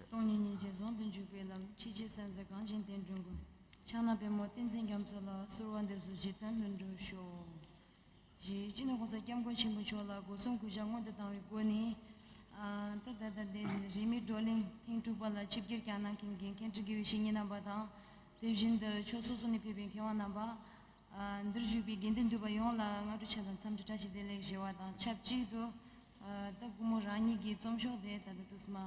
སྟོང་ཉིད་ཉིད་ཀྱི་གཟུང་དུ་འཇུག་པའི་ལམ་ཕྱིས་ཀྱི་སེམས་ཟད་གང་བཞིན་བསྟན་བསྒྲུན་དགོས། ཕྱག་ན་པད་མོ་བསྟན་འཛིན་རྒྱ་མཚོ་ལ་གསོལ་བ་འདེབས་སོ་རྗེས་བསྟོད་སྨོན་འགྲུབ་ཤོག། ཞེས་སྤྱི་ནོར ྋགོང་ས ྋསྐྱབས་མགོན་ཆེན་པོ་མཆོག་ལ་སྒོ་གསུམ་གུས་ཞབས་སྔོན་དུ་བཏང་བའི་སྒོ་ནས། ད་ལྟ་ལྟ་བདེ་རིས་མེད་བགྲོ་གླེང་ཐེངས་དྲུག་པ་ལ་ཆིབས་བསྒྱུར་བསྐྱངས་གནང་མཁན་དགེ་མཁན་བཀྲིས་དགེ་བའི་བཤེས་གཉེན་རྣམ་པ་དང་དེ་བཞིན་དུ་ཆོས་ཚོགས་སུ་ནས་ཕེབས་པའི་མཁས་དབང་རྣམ་པ། འདིར་བཞུགས་པའི་དགེ་འདུན་འདུས་པ་ཡོངས་ལ་སྔ་དྲོ་ཆ་དང་མཚམས་ཀྱི་བཀྲ་ཤིས་བདེ་ལེགས་བཞེས་བ་དང་ཆབས་ཅིག་ཏུ། ལྟ་སྐུ་མོ་རང་ཉིད་ཀྱི་རྩོམ་ཤོག་དེ་ད་ལྟ་དུ་སི་མ་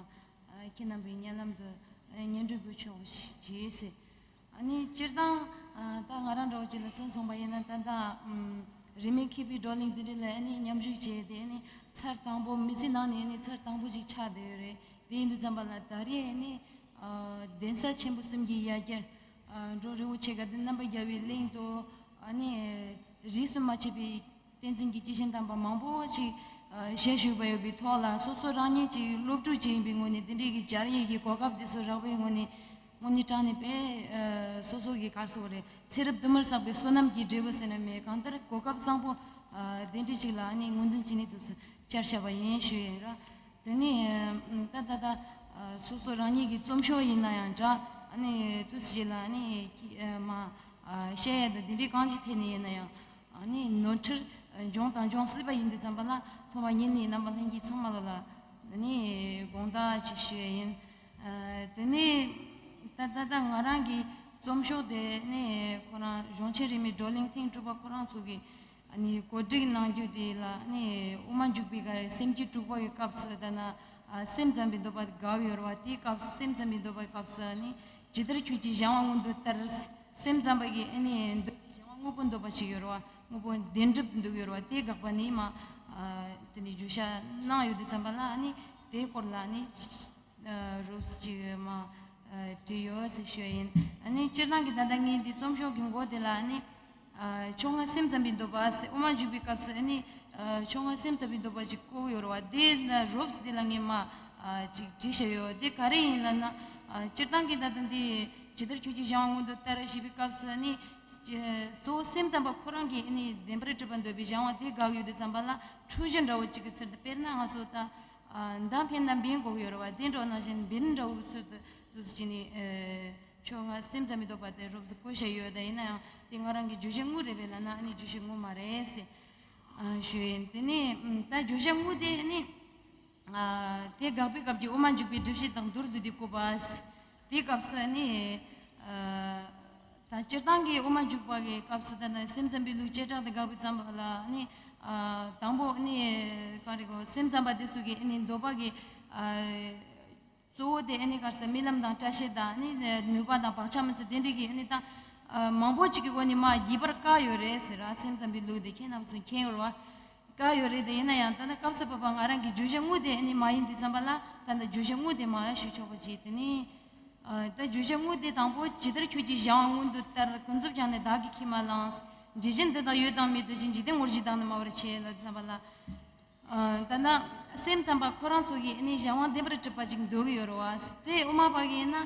ཁྱེད་རྣམ་པའི་སྙན་ལམ་དུ་སྙན་སྒྲོན་འབུལ་ཆོག་ཅེས་ཟེར། ནི་སྤྱིར་བཏང་ད་ང་རང་འདྲ་བ་ཅིག་ལ་བཙོན་སོང་པ་ཡིན་ན་ད་ལྟ་རིན་མེད་མཁས་པའི་བགྲོ་གླེང་འདི་འདྲ་ལ་མཉམ་ཞུགས་བྱས་ཏེ་ཚར་དང་པོ་མི་ཚེ་ནང་ནས་ཚར་དང་པོ་ཅིག་ཆགས་བསྡད་ཡོད་རེད་དེ་ཡིན་དུ་བརྩམས་པ་ལ་ད་རེས་གདན་ས་ཆེན་པོ་གསུམ་གྱི་ཡ་གྱལ་འགྲོ་རི་བོ་ཆེ་དགའ་ལྡན་རྣམ་པར་རྒྱལ་བའི་གླིང་དུ། རིས་སུ་མ་ཆད་པའི་བསྟན་འཛིན་གྱི་སྐྱེས་ཆེན་དམ་པ་མང་པོ་ཞིག་ཞལ་བཞུགས་པ་ཡོད་པའི་ཐོག་ལ་སོ་སོ་རང་ཉིད་ཀྱིས་སློབ་ཕྲུག་ཅིག་ཡིན་པའི་ངོས་ནས་འདི་འདྲའི་སྦྱར་ཡས་ཀྱི་གོ་སྐབས་འདི་ཚོ་རག་པའི་ངོས་ནས་དངོས་གནས་སྐྲག་ནས་པས། སོ་སོ་གི་གར་སོགས་རེད་ཚེ་རབས་དུ་མར་བསགས་པའི་བསོད་ནམས་ཀྱི་འབྲས་བུ་ཟེར་ན་མེད་གང་ལྟར་གོ་སྐབས་བཟང་པོ་དེ་འདྲའི་ཅིག་ལ་ངོས་འཛིན་བྱེད་ནས་དུས་སུ་བསྐྱར་བཤད་པ་ཡིན་ཞུས་ཡས་ར། དེ་ནས་ད་ལྟ་ད་སོ་སོ་རང་ཉིད་ཀྱི་རྩོམ་ཤོག་ཡིན་ན་ཡང་འདྲ། ཏུ་ཞིག་ལ་གཞལ་ཡས་དང་དེ་འདྲའི་གང་ཞིག་ཐད་ནས་ཡིན་ན་ཡང། ནོར་འཁྲུལ་འབྱུང་དང་འབྱུང་སྲིད་པ་ཡིན་དུས་བརྩམས་པ་ལ་མཐོང་བ་ཉིད་ནི་རྣམ་པ་ལྷན་སྐྱེས་ཚང་མ་ལ་དགོངས་དག་ཅིག་ཞུ་ཡས་ཡིན། དེ་ནས་ད་ལྟ་ང་རང་གི་རྩོམ་ཤོག་དེ་ཁོ་རང་གཞུང་ཆེན་རིས་མེད་བགྲོ་གླེང་ཐེངས་དྲུག་པ་ཁོ་རང་ཚོ་གི་གོ་སྒྲིག་གནང་རྒྱུ་དེ་ལ་དབུ་མ་འཇུག་པའི་སྐབས་སེམས་བསྐྱེད་དྲུག་པ་གི་སྐབས་སུ་ལྟར་ན་སེམས་ཙམ་པའི་འདོད་པ་དགག་ཡོད་རེད་བ་དེའི་སྐབས་སུ་སེམས་ཙམ་པའི་འདོད་པ་གི་སྐབས་སུ་ནི་ཇི་ལྟར་ཁྱོད་ཀྱིས་གཞན་དབང་དངོས་འདོད་ལྟར་སེམས་ཙམ་པ་གི་འདོད་པའི་གཞན་དབང་དངོས་པོ་འདོད་པ་ཞིག་ཡོད་རེད་བ་དངོས་པོ་བདེན་གྲུབ་འདུག་ཡོད་རེད་བ་དེ་དགག་པ་ནི་མ་དེ་ནི་བརྗོད་བྱ་གནང་ཡོད་དུ་བསམ་པ་ལ་ནི་དེའི་སྐོར་ལ་ནི་རོབ་ཅིག་མ་བྲིས་ཡོད་ཞུ་ཡིན་ནི་སྤྱིར་བཏང་གི་ད་ལྟ་ངའི་འདི་རྩོམ་ཤོག་གི་མགོ་དེ་ལ་ནི་ཕྱོགས་སྔ་སེམས་ཙམ་པའི་འདོད་པ་དབུ་མ་འཇུག་པའི་སྐབས་སུ་ནི་ཕྱོགས་སྔ་སེམས་ཙམ་པའི་འདོད་པ་ཞིག་བཀོད་ཡོད་རེད་བ་དེ་ན་རོབས་དེ་ལ་ངས་མ་ཅིག་དྲིས་བྱས་ཡོད་དེ་ག་རེ་ཡིན་ལབ་ན། སྤྱིར་བཏང་གི་ད་དུང་དེ་ཇི་ལྟར་ཁྱོད་ཀྱིས་བཞེངས་བ་སྔོན་དུ་བསྟར་ཞེས་པའི་སྐབས་སུ་ནི། གཙོ་བོ་སེམས་ཙམ་པ་ཁོ་རང་གིས་ནི་བདེན་པར་བསྒྲུབ་པར་འདོད་པའི་བཞེངས་བ་དེ་དགག་ཡོད་དུ་བརྩམས་པ་ལ་འཁྲུལ་གཞི་འདྲ་བོ་ཅིག་གི་ཚུལ་དུ་དཔེར་ན་སྔ་སོར་ད། མདའ་འཕེན་ན་འབེན་འགོག་ཡོད་རེད་བ་དེ་འགྲོགས་ན་བཞིན་འབེན་འདྲ་བོའི་ཚུལ་དུ་དུས་ཀྱི་ནི། ཆོ་ང་སེམས་ཙམ་མི་རྟོག་པ་དེ་རོབ་ཙེ་ཀོ་ཞེས་ཡོད་དེ་ཡིན་ན་ཡང་དེ་ང་རང་གི་བརྗོད་བྱའི་དངོས་རེད་པས་ན་ནག་ནི་བརྗོད་བྱའི་དངོས་མ་རེད། ཞུས་ཡིན་དེ་ནས་ད་བརྗོད་བྱའི་དངོས་དེ་ནི། དེ་དགག་པའི་སྐབས་ཀྱི་དབུ་མ་འཇུག་པའི་སྒྲིབ་བྱེད་དང་མདོར་བསྡུས་ཏེ་བཀོད་པ། དེའི་སྐབས་སུ་ནི། ད་སྤྱིར་བཏང་གི་དབུ་མ་འཇུག་པ་གི་སྐབས་སུ་ད་ནི་སེམས་ཙམ་པའི་ལུགས་བྱེ་བྲག་ཏུ་དགག་པའི་བརྩམས་པ་ལ་ནི། དང་པོ་ནི་གང་རེད་ཀོ་སེམས་ཙམ་པ་དེ་སུ་གིས་ནི་འདོད་པ་གི། གཙོ་བོ་དེ་ནི་གར་སའི་རྨི་ལམ་དང་སྐྲ་ཤད་དང་ནི་ནུས་པ་དང་བག་ཆགས་མི་ཚེ་དེ་འདྲ་གི་ནི་དང། མང་པོ་ཅིག་གི་སྒོ་ནས་མ་བགྱིས་པར་དཀའ་ཡོད་རེད་ཟེར་ར་སེམས་ཙམ་པའི་ལུགས་དེ་ཁྱེད་རྣམས་ཚོས་མཁྱེན་དགོས་རོགས། དཀའ་ཡོད་རེད་དེ་ཡིན་ན་ཡང་ད་ལྟ་སྐབས་སུ་བབ་པ་ང་རང་གིས་བརྗོད་བྱ་དངོས་དེ་ནི་མ་ཡིན་དུས་བརྩམས་པ་ལ་ད་ལྟ་བརྗོད་བྱ་དངོས་དེ་མ་ཞུས་ཆོག་པ་ཅིག་དེ་ནི། ད་བརྗོད་བྱ་དངོས་དེ་དང་པོ་ཇི་ལྟར་ཁྱོད་ཀྱིས་བཞག་དབང་སྔོན་དུ་ལྟར་ཀུན་རྫོབ་ཀྱང་ནི་བདག་གིས་ཁས་མ་བླངས། འཇིག་རྟེན་འདི་དག་ཡོད་དང་མེད་དུ་ཕྱིན་འཇིག་རྟེན་ངོར་གཞི་བདག་ནི་སྨྲ་བར་བྱའི་ལ་བརྩམས་པ་ལ། ད་ནི་སེམས་ཙམ་པ་ཁོ་རང་ཚོ་གིས་ཨེ་ནས་གཞན་དབང་བདེན་པར་སྒྲུབ་པ་ཅིག་འདོད་ཀྱི་ཡོད་རེད་བ། དེ་དབུ་མ་པ་གིས་ཡིན་ན་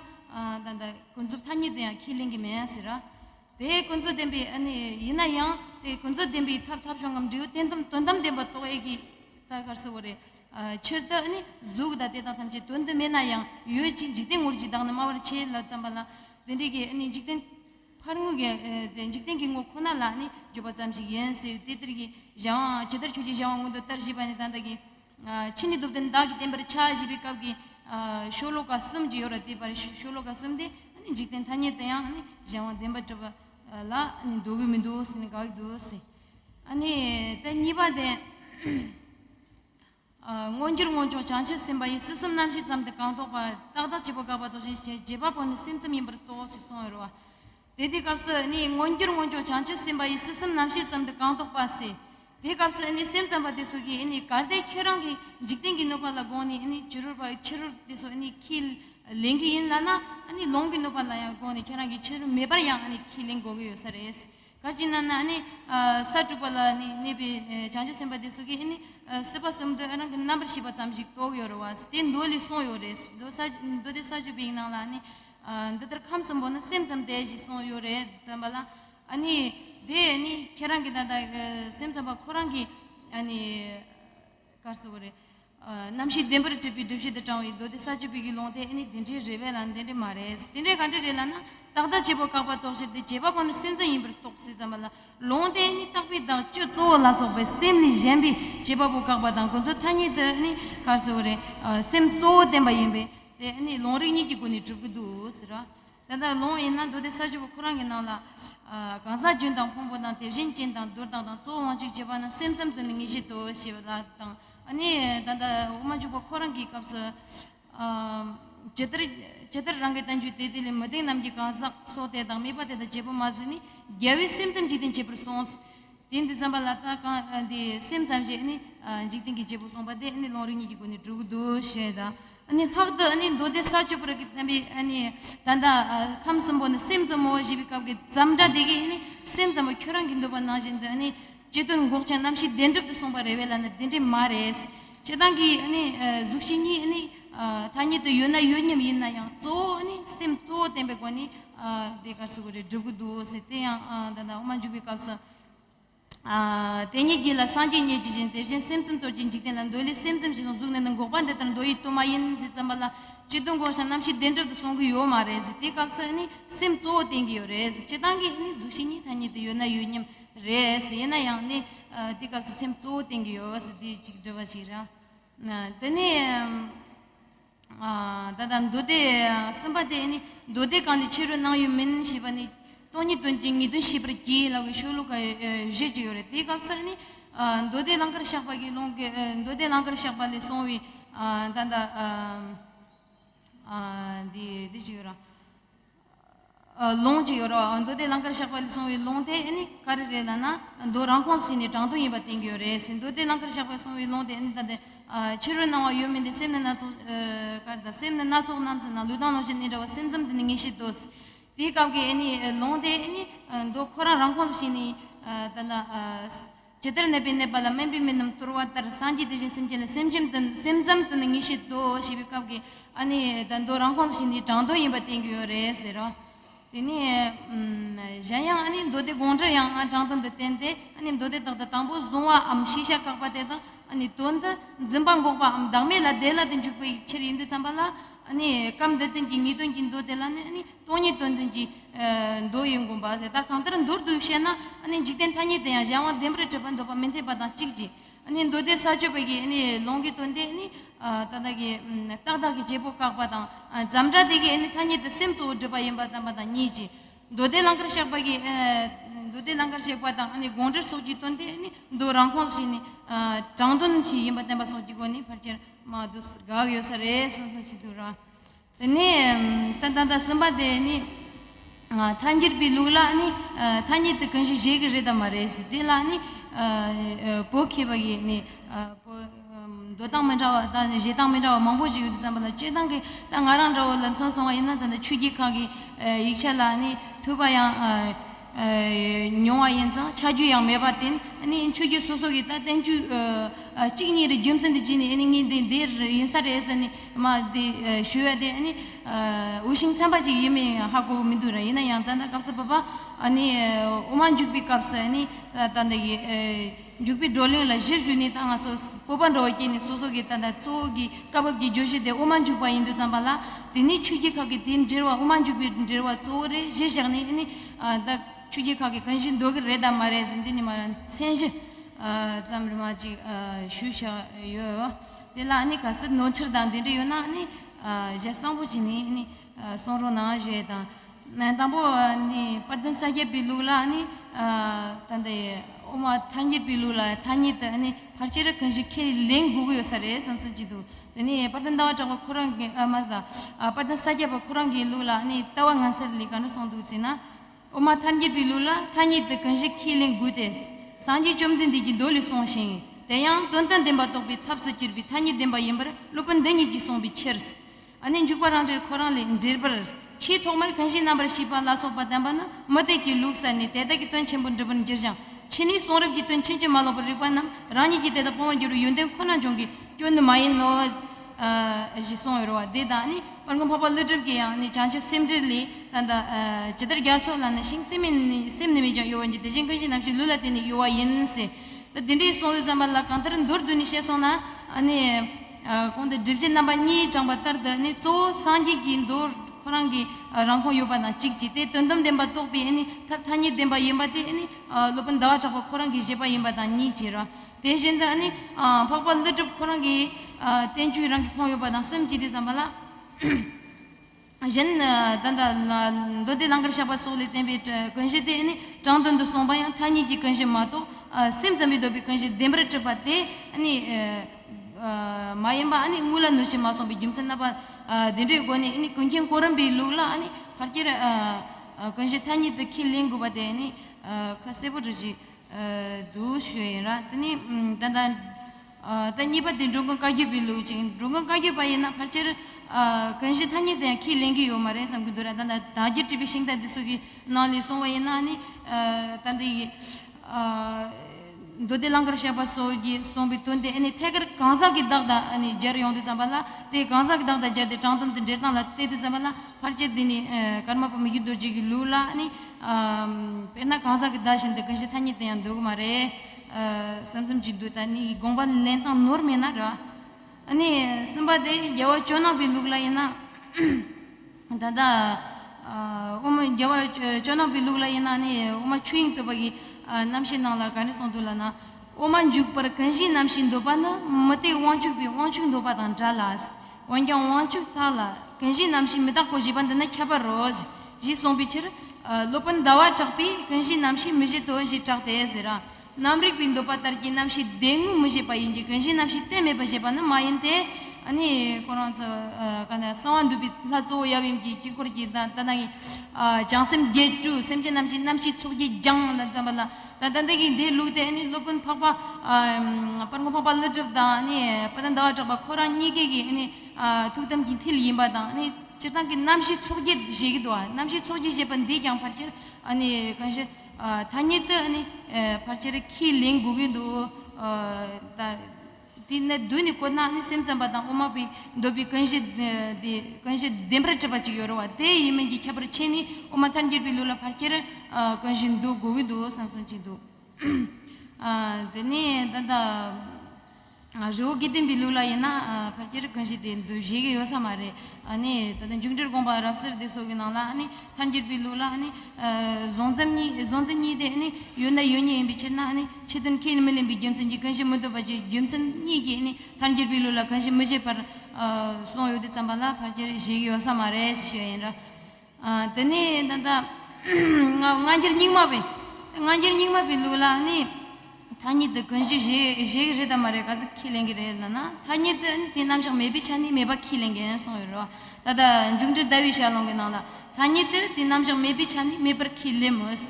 ད་ལྟ་ཀུན་རྫོབ་ཐ་སྙད་དེ་ཡང་ཁས་ལེན་གྱི་མེད་ཡ་ཟེར། དེ་ཀུན་རྫོབ་བདེན་པའི་ཨེ་ནས་ཡིན་ན་ཡང་དེ་ཀུན་རྫོབ་བདེན་པའི་ཐབས་ཐབས་བྱུང་ངམ་འབྲས་བུ་བསྟན་དམ་དོན་དམ་བདེན་པ་རྟོགས་ཡས་ཀྱི་ཐད་ཀར་གསལ་བོ་རེད། ཕྱིར་དུ་ཨེ་ནས་གཟུགས་དང་དེ་དག་ཐམས་ཅད་དོན་དུ་མེད་ན་ཡང་ཡོད་ཅེས་འཇིག་རྟེན་ངོར་གྱི་བདག་ནི་སྨྲ་བར་བྱེད་ལ་བརྩམས་པ་ལ། དེ་འདྲའི་གེགས་ཨེ་ནས་འཇིག་རྟེན། ཕར་ངོས་ཀྱི་འཇིག་རྟེན་གྱི་ངོ་ཁོ་ན་ལ་ནི་བརྗོད་པ་ཙམ་ཞིག་ཡིན་ཟེར་དེ་ལྟར་གྱི་གཞན་དབང་ཇི་ལྟར་ཁྱོད་ཀྱིས་གཞན་དབང་མངོན་དུ་ལྟར་ཞེས་པ་ནི་ད་ལྟ་གི། ཕྱི་ནི་སྡུག་བདེན་བདག་གིས་བདེན་པར་ཆགས་ཞེས་པའི་སྐབས་ཀྱི། ཤོ་ལོ་ཀ་གསུམ་གྱི་ཡོ་ར་དེ་པར་ཤོ་ལོ་ཀ་གསུམ་དེ་ནི་འཇིག་རྟེན་ཐ་སྙད་དུ་ཡང་ནི་གཞན་དབང་བདེན་པར་གྲུབ་པ་ལ་ནི་འདོད་གི་མི་འདུག་ཟེར་ནས་དགག་གི་འདུག་ཟེར། ཨ་ནི། ད་གཉིས་པ་དེ། མངོན་གྱུར་མངོན་ཕྱོགས་བྱང་ཆུབ་སེམས་དཔའ་ཡིས་སྲིད་གསུམ་རྣམ་ཤེས་ཙམ་དུ་གང་རྟོགས་པ། ཏག་ཏག་བྱེད་པོ་འགགས་པ་དོགས་ཤིང་ཞེས་རྗེས་དཔག་པོ་ནི་སེམས་ཙམ་ཡིན་པར་རྟོགས་ཞེས་གསུངས་ཡོད་དེ། དེའི་སྐབས་སུ་ནི་མངོན་གྱུར་མངོན་ཕྱོགས་བྱང་ཆུབ་སེམས་དཔའ་ཡིས་སྲིད་གསུམ་རྣམ་ཤེས་ཙམ་དུ་གང་རྟོགས་པ། དེའི་སྐབས་སུ་ནི་སེམས་ཙམ་པ་དེ་སོགས་ཀྱིས་ནི་གལ་ཏེ་ཁྱོད་རང་གིས་འཇིག་རྟེན་གྱི་གནོད་པ་ལ་དགོངས་ནས་ནི་བྱི་རུར་བ་ཁྱི་རུར་དེ་སོགས་ནི་ཁས་ལེན་གྱི་ཡིན་ལགས་ན། ལོང་གི་གནོད་པ་ལ་ཡང་དགོངས་ནས་ཁྱོད་རང་གིས་ཁྱི་རུ་མེད་པར་ཡང་ནི་ཁས་ལེན་དགོས་ཀྱི་ཡོད་ས་རེད། གང་ཞིག་རྣམས་ནི་ས་དྲུག་པ་ལ་གནས་པའི་བྱང་ཆུབ་སེམས་དཔའ་དེ་སོ་སྐྱེ་ནི་སྲིད་པ་གསུམ་དུ་རང་གི་རྣམ་པར་ཤེས་པ་ཙམ་ཞིག་རྟོགས་ཡོད་རུང་བ་དེ་མདོ་ལས་གསུངས་ཡོད་རེད་མདོ་སྡེ་ས་བཅུ་པའི་ནང་ལ་ནི་འདི་ལྟར་ཁམས་གསུམ་པོ་ནི་སེམས་ཙམ་སྟེ་ཞེས་གསུངས་ཡོད་རེད་བསམ་པ་ལ་དེས་ནི་ཁྱེད་རང་གི་ད་ལྟ་སེམས་ཙམ་པ་ཁོ་རང་གི་གར་སོང་བ་རེད། རྣམ་ཤེས་བདེན་པར་སྒྲིབ་པའི་སྒྲིབ་བྱེད་དུ་དྲང་བའི་མདོ་སྡེ་ས་བཅུ་པའི་དགེ་སློང་དེ་ཨེ་ནི་དེ་འདྲའི་རེ་བས་ལ་དེ་འདྲའི་མ་རེད་དེ་འདྲའི་ག་འདྲའི་རེད་ལ་ན་བདག་ལྟ་བྱེད་པོ་བཀག་པ་རྟོགས་ཕྱིར་དེ་བྱེད་པ་པོ་ནི་སེམས་ཅན་ཡིན་པར་རྟོགས་ཟེར་ཙམ་པ་ལ་ལོང་དེ་ཨེ་ནི་རྟག་པའི་བདག་ཅག་གཙོ་བོ་ལ་སོགས་པའི་སེམས་ལས་གཞན་པའི་བྱེད་པ་པོ་བཀག་པ་དང་ཀུན་རྫོབ་ཐ་སྙད་དུ་ཨེ་ནི་གར་སོང་བ་རེད་སེམས་གཙོ་བོ་བསྟན་པ་ཡིན་པས་དེ་ཨེ་ནི་ལོང་རིགས་གཉིས་ཀྱི་སྒོ་ནས་གྲུབ་ཀྱི་འདུག་ཟེར་རོ། ད་ལྟ་ལོང་ཡིན་ན་མདོ་སྡེ་ས་བཅུ་པོ་ཁོ་རང་གི་ནང་ལ། གང་ཟག་རྒྱུན་དང་ཕུང་པོ་དང་དེ་བཞིན་ཅན་དང་དུར་དང་དང་གཙོ་བོ་དབང་ཕྱུག་ཅེས་པ་ན་སེམས་ཙམ་དུ་ནི་ངེས་བཞིན་དུ་ཞེས་པ་ལ་དང། ནི་ད་ལྟ་འོག་མ་བཅུ་པོ་ཁོ་རང་གི་སྐབས་སུ། ཇི་ལྟར་ཇི་ལྟར་རང་གི་བསྟན་བཅོས་དེ་དེ་ལས་མི་ལྡེང་རྣམས་ཀྱི་གང་ཟག་སོགས་དེ་དང་དམིགས་པ་དེ་དང་བརྗེ་པོ་མ་ཟིན་ནི་རྒྱལ་བའི་སེམས་ཙམ་འཇིག་རྟེན་བརྗེ་པོར་སོང། དེ་འདི་བསམ་པ་ལ་ད་གང་འདི་སེམས་ཙམ་ཞེས་ནི་འཇིག་རྟེན་གྱི་བརྗེ་པོ་སོང་པ་དེ་ནི་ལོང་རིགས་གཉིས་ཀྱི་སྒོ་ནས་དྲུག་ཏུ་ཞེས་དང། ལྷག་ཏུ་མདོ་སྡེ་ས་བཅུ་པར་གྱི་བསྟན་པའི་ད་ལྟ་ཁམས་གསུམ་པོ་ནི་སེམས་ཙམ་མོ་ཞེས་པའི་སྐབས་ཀྱི་ཙམ་སྒྲ་དེ་གས་སེམས་ཙམ་པོ་ཁྱོད་རང་གིས་འདོད་པ་ནང་བཞིན་དུ་སྤྱི་དོན་འགོག་ཅིང་རྣམ་ཤེས་བདེན་གྲུབ་ཏུ་གསུངས་པར་རེ་བས་ལ་ནི་དེ་འདྲས་མ་རེད། བྱེད་སྟངས་ཀྱི་གཟུགས་གཞི་གཉིས་ཐ་སྙད་དུ་ཡོད་ན་ཡོད་ཉམས་ཡིན་ན་ཡང་གཙོ་བོ་ནི་སེམས་གཙོ་བོ་བསྟན་པའི་སྒོ་ནས་དེ་ག་ཟུག་རེ་བསྒྲུབ་ཀྱི་འདུག་ཟེར་དེ་ཡང་ད་ལྟ་འོག་མ་འཇུག་པའི་སྐབས་སུ། དེ་ཉིད་ཀྱིས་ལ་སངས་རྒྱས་མཉེས་ཀྱི་བཞིན་དེ་བཞིན་སེམས་ཙམ་རྩོལ་གྱི་འཇིག་རྟེན་ལ་མདོ་ལས་སེམས་ཙམ་ཞིག་ཀྱང་གཟུགས་ནས་ནི་འགོག་པ་འདི་ལྟར་མདོ་ཡི་དོན་མ་ཡིན་ཟེར་བརྩམས་པ་ལ་ཅི་དུས་འགོག་བྱ་རྣམ་ཤེས་བདེན་གྲུབ་ཏུ་སོང་གི་ཡོད་མ་རེད་ཟེར་དེའི་སྐབས་སུ་ནི་སེམས་གཙོ་བོ་བསྟན་གྱི་ཡོད་རེད་ཟེར་སྤྱི་དང་གི་ནི་གཟུགས་ཤིག་ཉིད་ཐ་སྙད་དུ་ཡོད་ན་ཡོད་སྙམ་རེད་ཟེར་ཡིན་ན་ཡང་ནི་དེའི་སྐབས་སུ་སེམས་གཙོ་བོ་བསྟན་གྱི་ཡོད་ཟེར་དེ་ཅིག་འདྲི་བ་ཞིག་རེད་ཨང། དེ་ནི། ད་ལྟ་མདོ་སྡེ་གསུམ་པ་དེ་ནི་མདོ་སྡེ་གང་དེའི་ཕྱི་རོལ་སྣང་ཡུལ་མིན་ཞེས་པ་ནི་སྟོང་ཉིད་དོན་གྱི་ངེས་དོན་ཤེས་པར་གྱིས་ལགས་པའི་ཤོ་ལོ་ཀ་བཞི་ཅིག་ཡོད་རེད་དེའི་སྐབས་སུ་ནི་མདོ་སྡེ་ཀླང་ཀར་ཤག་པ་གི་ཀློང་གི་མདོ་སྡེ་ཀླང་ཀར་ཤག་པ་ལས་གསུང་བའི་ད་ལྟ་འདི་ཅི་ཡོད་ར། ལུང་གཅིག་ཡོད་རོགས་མདོ་སྡེ་ལང་ཀར་ཤག་པ་ལས་གསུང་བའི་ལུང་དེ་ཨེ་ནི་ག་རེ་རེད་ལ་ན་མདོ་རང་ཁོངས་སུ་ཞིག་ནས་དྲང་ཐུང་ཡིན་པ་བསྟན་གྱི་ཡོད་རེད་ཟེར་མདོ་སྡེ་ལང་ཀར་ཤག་པས་གསུང་བའི་ལུང་དེ་ཨེ་ནི་ད་ལྟ་ཕྱི་རོལ་སྣང་བ་ཡོད་མིན་དེ་སེམས་ནི་སྣ་ཚོགས་ཀར་དང་སེམས་ནི་སྣ་ཚོགས་རྣམས་སུ་ན་ལུས་དང་ལོངས་སྤྱོད་གནས་འདྲ་བ་སེམས་ཙམ་དེ་ནི་ངེས་ཤེས་དོ། དེའི་སྐབས་ཀྱི་ཨེ་ནི་ལུང་དེ་ཨེ་ནི་མདོ་ཁོ་རང་རང་ཁོངས་སུ་ཞིག་ནས་ད་ལྟ། ཇི་ལྟར་གནས་པའི་གནས་པ་ལ་སྨན་པའི་མི་རྣམས་དོར་བ་ལྟར་སངས་རྒྱས་དེ་བཞིན་སེམས་ཅན་ལ་སེམས་ཅན་དུ་སེམས་ཙམ་དུ་ནི་ངེས་ཤེས་དོ་ཞེས་པའི་སྐབས་ཀྱི་ཨ་ནི་བདག་མདོ་རང་ཁོངས་སུ་ཞིག་འདི་བགྲང་དོ་ཡིན་པར་བསྟན་གྱི་ཡོད་རེད་ཟེར་རོ། དེ་ནས་གཞན་ཡང་ཨ་ནི་མདོ་སྡེ་དགོངས་འགྲེལ་ཡང་བགྲང་དོན་དུ་བསྟན་ཏེ་ཨ་ནི་མདོ་སྡེ་དག་ཏུ་དང་པོ་གཟུང་བའམ་ཤེས་བྱ་བཀག་པ་དེ་དང་ཨ་ནི་དོན་དུ་འཛིན་པ་འགོག་པའམ་བདག་མེད་ལ་བདེ་བླག་ཏུ་འཇུག་པའི་ཕྱིར་ཡིན་དུ་བསམས་པ་ལ། སྐབས་འདི་དོན་གྱི་གཉིས་དོན་གྱི་མདོ་དེ་ལ་ནི་སྟོང་ཉིད་དོན་དོན་གྱི་མདོ་ཡིན་དགོངས་པ་ཟད་ད་གང་ལྟར་མདོར་བསྡུས་བཤད་ན་འཇིག་རྟེན་ཐ་སྙད་དེ་ཡང་གཞན་དབང་བདེན་པར་འབྲེལ་པར་འདོད་པ་མི་འཐད་པ་དང་གཅིག་ཅིང། མདོ་སྡེ་ས་སྤྱོད་པ་ཡི་ལུང་གི་དོན་དེ་ནི། ཏག་ཏག་གི་རྟགས་དག་གི་བྱེད་པོ་བཀག་པ་དང། འཛམ་བྲག་དེ་གའི་ཐ་སྙད་དུ་སེམས་གཙོ་བོར་བསྒྲུབས་པ་ཡིན་པར་བསྟན་པ་དང་གཉིས་ཅན། མདོ་སྡེ་ལང་ཀར་གཤེགས་པ་གྱིས། མདོ་སྡེ་ལང་ཀར་གཤེགས་པ་དང་དགོངས་འགྲེལ་སོགས་ཀྱི་དོན་དེ་ནི་མདོའི་རང་ཁོངས་སུ་ཞིག་ནས། དྲང་དོན་ཞིག་ཡིན་པར་བསྟན་པ་སོགས་ཀྱི་སྒོ་ནས་ཕར་ཆེར་མ་བསྡུ་ས་དགག་ཡོད་ས་རེད་བསམ་བསམ་བྱེད་འདུག་ར། དེ་ནས། ཏན་ཏན་ཏན་གསུམ་པ་དེ་ནི། ཐ་སྙད་པའི་ལུགས་ལ་ནི། ཐ་སྙད་དེ་གང་ཞིག་བཞེད་ཀྱི་རེད་དམ་མ་རེད་ཟེར་དེ་ལ་ནི། བོད་མཁས་པ་ཡིས་ནི། འདོད་སྟངས་མི་འདྲ་བ་དང་བཞེད་སྟངས་མི་འདྲ་བ་མང་པོ་ཞིག་ཡོད་དུས་བསམ་པ་ལ་སྤྱིར་བཏང་གི་ད་ང་རང་འདྲ་བོ་ལམ་སང་སོང་བ་ཡིན་ན་ད་ལྟ་ཆོས་རྒྱུད་ཁག་གི་ཡིག་ཆ་ལ་ནི་ཐོས་པ་ཡང་ཉུང་བ་ཡིན་ཙང་ཆ་རྒྱུས་ཡང་མེད་པར་བརྟེན་ནི་ཆོས་རྒྱུད་སོ་སོ་གི་ད་བསྟན་བཅོས་གཅིག་གཉིས་རེ་རྒྱུ་མཚན་དུ་བྱས་ནས་ནི་ངས་འདི་འདི་ཡིན་ས་རེད་ཟེར་ནས་མ་དེ་ཞུ་བ་དེ་ནི་འུར་ཞིང་ཚན་པ་ཅིག་ཡིན་མིན་ཧ་གོ་མི་འདུག་ར་ཡིན་ན་ཡང་ད་ལྟ་སྐབས་སུ་བབ་པ་ནི་དབུ་མ་འཇུག་པའི་སྐབས་སུ་ནི་ད་ལྟ་ཡི་འཇུག་པའི་བགྲོ་གླེང་ལ་གཞིར་བཞུགས་ནས་ད་སྔ་སོག་པོ་པ་འགྲོ་བ་སྐྱེས་ནས་སོ་སོ་གི་ད་ལྟ་གཙོ་བོ་གི་བཀའ་བབས་ཀྱི་བརྗོད་གཞི་དེ་དབུ་མ་འཇུག་པ་ཡིན་དུ་བརྩམས་པ་ལ། དེ་ནས་ཆོས་རྒྱུད་ཁག་གི་དེའི་འགྲེལ་བ་དབུ་མ་འཇུག་པའི་འགྲེལ་བ་གཙོ་བོ་རེད་གཞིར་བཞག་ནས་ནི། ད་ཆོས་རྒྱུད་ཁག་གི་གང་ཞིག་འདོད་ཀྱི་རེད་དམ་མ་རེད་ཟེར་འདི་ནི་མ་རང་མཚན་གཞི་ཙམ་རེ་མ་ཅིག་ཞུ་བཞག་ཡོད། དེ་ལ་ནི་ག་སེར་ནོར་འཁྲུལ་དང་དེ་འདྲ་ཡོད་ན་ནི། གཞན་གསང་པོ་ཅི་ནས་ནི། གསུང་རོགས་གནང་ཞེས་དང། དང་པོ། པར་ལྡན་ས་སྐྱའི་པའི་ལུགས་ལ་ནི། ད་ལྟ་ཡི། དབུ་མ་ཐ་སྙད་པའི་ལུགས་ལ་ཐ་སྙད་དུ་ནི་ཕར་ཆེར་གང་ཞིག་ཁས་ལེན་དགོས་ཀྱི་ཡོད་ས་རེད་བསམ་བསམ་བྱས་འདུག་དེ་ནས་པར་ལྡན་ཟླ་བ་གྲགས་པ་ཁོ་རང་གི། མ་གདའ། པར་ལྡན་ས་སྐྱ་པ་ཁོ་རང་གི་ལུགས་ལ་ནི་ལྟ་བ་ངན་སར་ལས་ག་འདྲ་སོང་འདུག་ཅེ་ན། དབུ་མ་ཐ་སྙད་པའི་ལུགས་ལ་ཐ་སྙད་དུ་གང་ཞིག་ཁས་ལེན་དགོས་ཏེ། སངས་རྒྱས་བཅོམ་ལྡན་འདས་ཀྱི་མདོ་ལས་གསུངས་ཤིང། དེ་ཡང་དོན་དམ་བདེན་པ་རྟོགས་པའི་ཐབས་སུ་གྱུར་པའི་ཐ་སྙད་བདེན་པ་ཡིན་པར་སློབ་དཔོན་འདི་ཉིད་ཀྱིས་གསུངས་པའི་ཕྱིར། ཨ་ནི་འཇུག་པ་རང་འདྲེར་འཁོར་རང་ལས་འདྲེར་པར་ཕྱིའི་ཐོག་མར་གང་ཞིག་རྣམ་པར་ཤེས་པ་ལ་སོགས་པ་བདམས་པ་ན་མུ་སྟེགས་ཀྱི་ལུགས་གསར་ནི་དེ་དག་གི་དོན་ཆེན་པོ་འགྲུབ་པར་འགྱུར་ཞིང་ཕྱིས་ནི་གསུང་རབ་ཀྱི་དོན་ཕྱིན་ཅི་མ་ལོག་པར་རིགས་པ་རྣམས་རང་ཉིད་ཀྱིས་དེ་དག་སྤོང་བར་འགྱུར་བའི་ཡོན་ཏན་ཁོ་ན་འབྱུང་གི་སྐྱོན་ནི་མ་ཡིན་ནོ། ཞེས་གསུངས་ཡོད་རུང་བ་འདི་དང་ནི་པར་ངོ་འཕགས་པ་ཀླུ་སྒྲུབ་ཀྱི་ཡང་ནི་བྱང་ཆུབ་སེམས་འགྲེལ་ལས་ད་ལྟ་ཇི་ལྟར་རྒྱ་མཚོ་ལ་ན་ཞིང་སེམས་ནི་མེད་ཀྱང་གཡོ་བར་འགྱུར་དེ་བཞིན་གང་ཞིག་ནམ་ཞིག་ལུས་ལ་བརྟེན་ནས་གཡོ་བ་ཡིན། ད་འདི་འདྲའི་གསུང་འོས་འཚམ་པ་ལ་གང་ལྟར་མདོར་བསྡུས་ནས་བཤད་སོང་ན་ནི། གོང་དུ་སྒྲིབ་བྱེད་རྣམ་པ་གཉིས་དྲངས་པ་ལྟར་དུ་ནི་གཙོ་བོ་སངས་རྒྱས་ཀྱི་མདོ་ཁོ་རང་གི་རང་ཁོངས་ཡོད་པ་དང་གཅིག་ཅིག་སྟེ་དོན་དམ་བདེན་པ་རྟོགས་པའི་ཐབས་ཐ་སྙད་བདེན་པ་ཡིན་པ་དེ་ནི་སློབ་དཔོན་ཟླ་བ་གྲགས་པ་ཁོ་རང་གི་བཞེད་པ་ཡིན་པ་དང་གཉིས་ཀྱིས་རོ། དེ་བཞིན་དུ་ནི་འཕགས་པ་ཀླུ་སྒྲུབ་ཁོ་རང་གིས་བསྟན་བཅོས་རང་གི་ཁོངས་ཡོད་པ་དང་གསུམ་གྱིས་དེ་བསམས་པ་ལ། གཞན། ད་ལྟ་མདོ་སྡེ་གླང་དཀར་ཞགས་པ་སོགས་ལས་བསྟན་པའི་ཀུན་གཞི་དེ་ནི་དྲང་དོན་དུ་སོང་བ་ཡང་ཐ་སྙད་ཀྱི་ཀུན་གཞི་མ་གཏོགས་སེམས་ཙམ་པའི་འདོད་པའི་ཀུན་གཞི་བདེན་པར་གྲུབ་པ་དེ་ནི་མ་ཡིན་པ་དངོས་ལ་ནུས་ཤིང་མ་སོང་པའི་རྒྱུ་མཚན་རྣམ་པ་འདི་འདྲའི་སྒོ་ནས་ཀུན་མཁྱེན་གོ་རིམ་པའི་ལུགས་ལ་ཕར་ཁྱེར་ཀུན་གཞི་ཐ་སྙད་དུ་ཁས་ལེན་དགོས་པ་དེ་ནི་ཁ་གསལ་པོ་རེ་ཞིག་འདུག་ཞུ་ཡི་ཡིན་ར་དེ་ནས་ད་ལྟ། ཟླ་གཉིས་པ་དེ་འགྲོ་མགོན་བཀའ་བརྒྱུད་པའི་ལུགས་ཅིག་འགྲོ་མགོན་བཀའ་བརྒྱུད་པ་ཡིན་ན་ཕར་ཆེར། གོན་གཞི་ཐ་སྙད་དེ་ཡང་ཁས་ལེན་གྱི་ཡོད་མ་རེད་བསམ་གྱི་འདུག་ར་ད་ལྟ་དག་སྒྱུར་བྲིས་པའི་ཤིང་རྟ་འདི་སོགས་ཀྱི་ནང་ལས་གསུང་བ་ཡིན་ན་ནི། ད་འདི་ཡི། མདོ་སྡེ་གླང་དཀར་བཤད་པ་སོགས་ཀྱིས་གསུངས་པའི་དོན་དེ་ཨེ་ནས་ཐད་ཀར་གང་ཟག་གི་བདག་དང་ནི་སྦྱར་ཡོང་དུ་བརྩམས་པ་ལ་དེ་གང་ཟག་གི་བདག་དང་སྦྱར་ཏེ་དྲང་སྡོམ་དུ་འགྲེལ་སྟངས་ལ་བལྟས་དུ་བརྩམས་པ་ལ་ཕར་ཆེར་འདི་ནི་ཀརྨ་པ་མི་བརྒྱུད་རྡོ་རྗེ་ཀྱི་ལུགས་ལ་ནི། དཔེར་ན་གང་ཟག་གི་བདག་བཞིན་དུ་གོན་གཞི་ཐ་སྙད་དེ་ཡང་འདོད་གི་མ་རེད། བསམ་བསམ་གཅིག་བསྡུས་དང་ནི་ཡི་དགོངས་པ་ལེན་སྟངས་ནོར་མེད་ན་རག། ཨ་ནི་གསུམ་པ་དེ་རྒྱལ་བ་ཇོ་ནང་པའི་ལུགས་ལ་ཡིན་ན། ད་ལྟ། དབུ་མ་རྒྱལ་བ་ཇོ་ནང་པའི་ལུགས་ལ་ཡིན་ན་ནི་དབུ་མ་ཆོས་དབྱིངས་བསྟོད་པ་གི་རྣམ་བཤད་ནང་ལ་ག་རེ་གསུངས་འདུག་ལ་ན། དབུ་མ་འཇུག་པར་གང་ཞིག་རྣམ་བཞིན་འདོད་པ་ནི་མུ་སྟེགས་དབང་ཕྱུག་པའི་དབང་ཕྱུག་འདོད་པ་དང་འདྲ་ལ། འོན་ཀྱང་དབང་ཕྱུག་དག་ལ་གང་ཞིག་ནམ་ཞིག་མི་རྟག་གོ་བཞེད་པ་འདི་ནི་ཁྱད་པར་རོ། ཞེས་གསུངས་པའི་ཕྱིར། སློབ་དཔོན་ཟླ་བ་གྲགས་པས་གང་ཞིག་ནམ་ཞིག་མི་བཞེད་དོ་ཞེས་གྲགས་ཏེ་ཟེར། རྣམ་རིག་པའི་འདོད་པ་ལྟར་གྱི་ནམ་ཞིག་བདེན་དངོས་མི་བཞེད་པ་ཡིན་གྱི་གང་ཞིག་ནམ་ཞིག་རྟེན་མེད་པར་བཞེད་པ་ནི་མ་ཡིན་ཏེ། ནི། ཁོ་རང་ཚོ་གང་ལྟར་གསང་བ་འདུས་པའི་ལྷ་གཙོ་བོ་ཡབ་ཡུམ་གྱི་དཀྱིལ་འཁོར་གྱི་ལྟ་སྟངས་ཀྱིས། བྱང་སེམས་བརྒྱད་སྤྲུལ་སེམས་ཅན་རྣམས་ཀྱིས་རྣམ་ཤེས་ཚོགས་ཀྱིས་སྦྱངས་ལ་བརྩམས་པ་ལ། ད་ལྟ་འདི་གའི་འདས་ལུགས་དེ་ནི་སློབ་དཔོན་འཕགས་པ་སྤར་མགོན་འཕགས་པ་ཀླུ་སྒྲུབ་དང་པདྨ་ཟླ་བ་གྲགས་པ་ཁོ་རང་གཉིས་ཀས་ཀྱི་ཐུགས་དམ་གྱི་མཐིལ་ཡིན་པ་དང་སྤྱིར་བཏང་གི་རྣམ་བཞི་ཚོགས་བརྒྱད་ཞེས་ཀྱི་འདུག་རྣམ་བཞི་ཚོགས་བརྒྱད་ཞེས་པ་འདིས་ཀྱང་ཕར་ཆེར་གང་ཞེ་ཐ་སྙད་དུ་ཕར་ཆེར་ཁས་ལེན་དགོས་ཀྱི་འདུག་ད། དེ་ནས་བདུད་ནི་བཀོད་ནག་ནི་སེམས་ཙམ་པ་དང་དབུ་མ་པའི་འདོད་པའི་ཀུན་གཞི། ཀུན་གཞི་བདེན་པར་སྤྲད་པ་ཅིག་ཡོད་རུང་བ་དེ་ཡིན་མིན་གྱི་ཁྱད་པར་ཕྱེས་ནས་དབུ་མ་མཐར་འགྱུར་པའི་ལུགས་ལ་ཕར་ཁྱེར། ཀུན་གཞི་འདུག་དགོས་ཀྱི་འདུག་བསམ་བསམ་གྱིན་འདུག། དེ་ནས་ད་ལྟ། རི་བོ་དགེ་ལྡན་པའི་ལུགས་ལ་ཡིན་ན་ཕར་ཁྱེར་ཀུན་གཞི་དེ་འདུག་བཞེད་ཀྱི་ཡོད་ས་མ་རེད། ནས་ད་ལྟ་མཇུག་འབྲས་དགོངས་པ་རབ་གསལ་དེ་སོགས་ཀྱི་ནང་ལ་ནི་མཐར་འགྱུར་པའི་ལུགས་ལ་ནི། གཟུང་འཛིན་གཉིས་དེ་ནི་ཡོད་ན་ཡོད་ཉིད་ཡིན་པའི་ཕྱིར་ན་ནི། ཆེད་དོན་ཁས་མི་ལེན་པའི་རྒྱུ་མཚན་གྱིས་གང་ཞིག་མི་འདོད་པ་བརྗེད་རྒྱུ་མཚན་གཉིས་ཀྱིས་ནི་མཐར་འགྱུར་པའི་ལུགས་ལ་གང་ཞིག་མི་བརྗེད་པར་སོང་ཡོད་དེ་བརྩམས་པ་ལ་ཕར་འགྱུར་ཞིག་ཡོད་ས་མ་རེད་ཞེས་ཡིན། དེ་ནི་ད་ལྟ་སྔ་འགྱུར་རྙིང་མ་པའི་སྔ་འགྱུར་རྙིང་མ་པའི་ལུགས་ལ་ནི་ཐ་སྙད་དུ་གང་ཞིག་བཞེད་ཀྱི་རེད་དམ་མ་རེད་ག་ཚོད་ཁས་ལེན་གྱི་རེད་ལབ་ན་ཐ་སྙད་དུ་ནི་དེ་རྣམ་གཞག་མེད་པའི་ཆ་ནས་མེད་པ་ཁས་ལེན་གྱིན་སོང་ཡོད་རེད་ད་ལྟ་མཇུག་འབྲས་ཟླ་བའི་ཞལ་ལུང་གི་ནང་ལ་ཐ་སྙད་དུ་དེ་རྣམ་གཞག་མེད་པའི་ཆ་ནས་མེད་པར་ཁས་ལེན་མུས་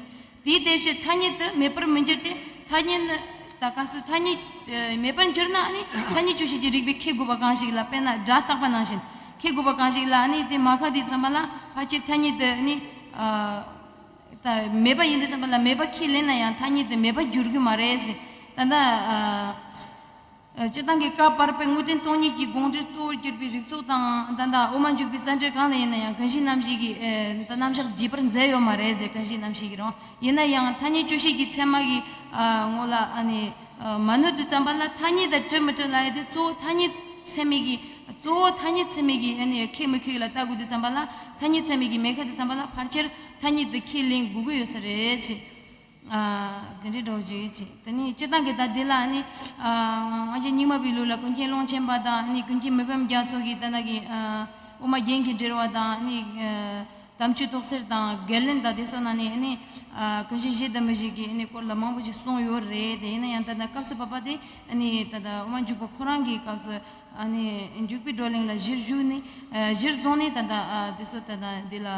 དེའི་དེབ་ཕྱིར་ཐ་སྙད་དུ་མེད་པར་མི་འགྱུར་ཏེ། ཐ་སྙད་ནི། ད་ག་སོ་ཐ་སྙད། མེད་པར་འགྱུར་ན་ནི་ཐ་སྙད་དཔྱོད་བྱེད་ཀྱི་རིགས་པའི་ཁེ་དགུ་པ་གང་ཞིག་ལ་དཔེར་ན་སྒྲ་རྟག་པ་ནང་བཞིན། ཁེ་དགུ་པ་གང་ཞིག་ལ་ནི་དེ་མ་ཁ་དེའི་བསམ་པ་ལ་ཕ་ཁྱེར་ཐ་སྙད་དུ་ནི། ད། མེད་པ་ཡིན་དུ་བསམ་པ་ལ་མེད་པ་ཁས་ལེན་ན་ཡང་ཐ་སྙད་དུ་མེད་པར་འགྱུར་གྱི་མ་རེད། ད། སྤྱི་བཏང་གི་སྐབས་བར་པའི་དངོས་བསྟན་སྟོང་ཉིད་ཀྱི་དགོངས་འགྲེལ་གཙོ་བོར་གྱུར་པའི་རིགས་ཚོགས་དང་ད་ལྟ་འོ་མ་འཇུག་པའི་རྩ་འགྲེལ་གང་ལ་ཡིན་ན་ཡང་གང་ཞིག་རྣམ་བཞི་གིས་ད་རྣམ་གཞག་བགྱིད་པར་མཛད་ཡོད་མ་རེད་ཟེར་གང་ཞིག་རྣམ་ཤེས་ཀྱི་རང་ཡིན་ན་ཡང་ཐ་སྙད་དཔྱོད་ཤེས་ཀྱི་ཚད་མ་གི་ངོ་ལ་མ་གནོད་དུ་བརྩམས་པ་ལ་ཐ་སྙད་དང་བྲལ་མི་བྲལ་ལ་ཡང་དེ་གཙོ་བོ་ཐ་སྙད་ཚད་མེད་ཀྱི་གཙོ་བོ་ཐ་སྙད་ཚད་མེད་ཀྱི་ཁེགས་མི་ཁེགས་ལ་བལྟ་དགོས་དུ་བརྩམས་པ་ལ་ཐ་སྙད་ཚད་མེད་ཀྱི་མེད་ཁ་དུ་བརྩམས་པ་ལ་ཕར་ཁྱེར་ཐ་སྙད་དུ་ཁས་ལེན་དགོས་ཀྱི་ཡོད་ས་རེད། དེ་འདྲའི་གྲོགས་བྱེད་ཀྱི་བྱེད། དེ་ནས་སྤྱིར་བཏང་གི་ད་འདི་ལ་ནི། ང་རྒྱལ་སྙིགས་མ་པའི་ལུགས་ལ་ཀུན་མཁྱེན་ཀློང་ཆེན་པ་དང་ནི་ཀུན་མཁྱེན་མི་ཕམ་རྒྱ་མཚོ་གིས་ཏཱ་ན་གི། དབུ་མ་རྒྱན་གྱིས་འདྲིལ་བ་དང་ནི། དམ་ཆོས་ཐོག་སེར་དང་བརྒལ་ལན་དང་དེ་སོགས་ནང་ནས་ནི། ཀུན་མཁྱེན་གཞི་བདག་མི་བཞེད་ཀྱི་ནི་སྐོར་ལ་མང་པོ་ཞིག་གསུངས་ཡོད་རེད་དེ་ཡིན་ན་ཡང་ད་ལྟ་སྐབས་སུ་བབ་པ་དེ་ནི་ད་ལྟ་དབུ་མ་འཇུག་པ་ཁོ་རང་གི་སྐབས་སུ། འཇུག་པའི་བགྲོ་གླེང་ལ་གཞིར་བཞུགས་ནས་གཞིར་བཟུང་ནས་ད་ལྟ་དེ་སོགས་ད་ལྟ་འདི་ལ།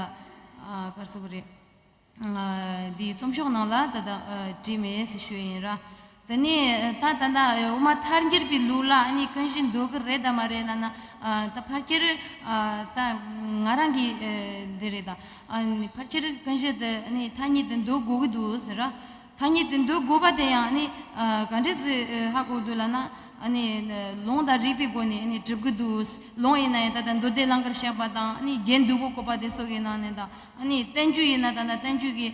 སྐར་ཚོགས་རེད། འདིའི་རྩོམ་ཤོག་ནང་ལ་ད་ལྟ་བྲིས་མེད་ཟེར་ཤོས་ཡིན་ར། དེ་ནས་ད་ད་ལྟ་འོ་མ་མཐར་འགྱུར་པའི་ལུགས་ལ་ཨ་ནི་རྐང་བཞིན་འདོད་ཀི་རེད་དམ་མ་རེད་ལ་ན། ད་ཕར་ཁྱེར། ད་ང་རང་གིས་འདི་རེད་ད། ཕར་ཁྱེར་རྐང་བཞི་འདི་ཨ་ནི་མཐའ་གཉིས་འདི་འདོད་དགོས་ཀི་འདུག་ཟེར་ར། ཐ་སྙད་དེ་འདོད་དགོས་པ་དེ་ཡང་ག་འདྲས་ཧ་གོ་འདོད་ལ་ན། ལུང་དང་རིགས་པའི་སྒོ་ནས་བསྒྲིབ་དགོས་འདུག་ལུང་ཡིན་ན་ཡང་ད་ལྟ་མདོ་སྡེ་ལང་ཀར་བཤད་པ་དང་རྒྱན་འདུལ་བོ་བཀོད་པ་དེ་སོགས་ཀྱི་ནང་ནས་དང། བསྟན་བཅོས་ཡིན་ན་ད་ལྟ་བསྟན་བཅོས་ཀྱི་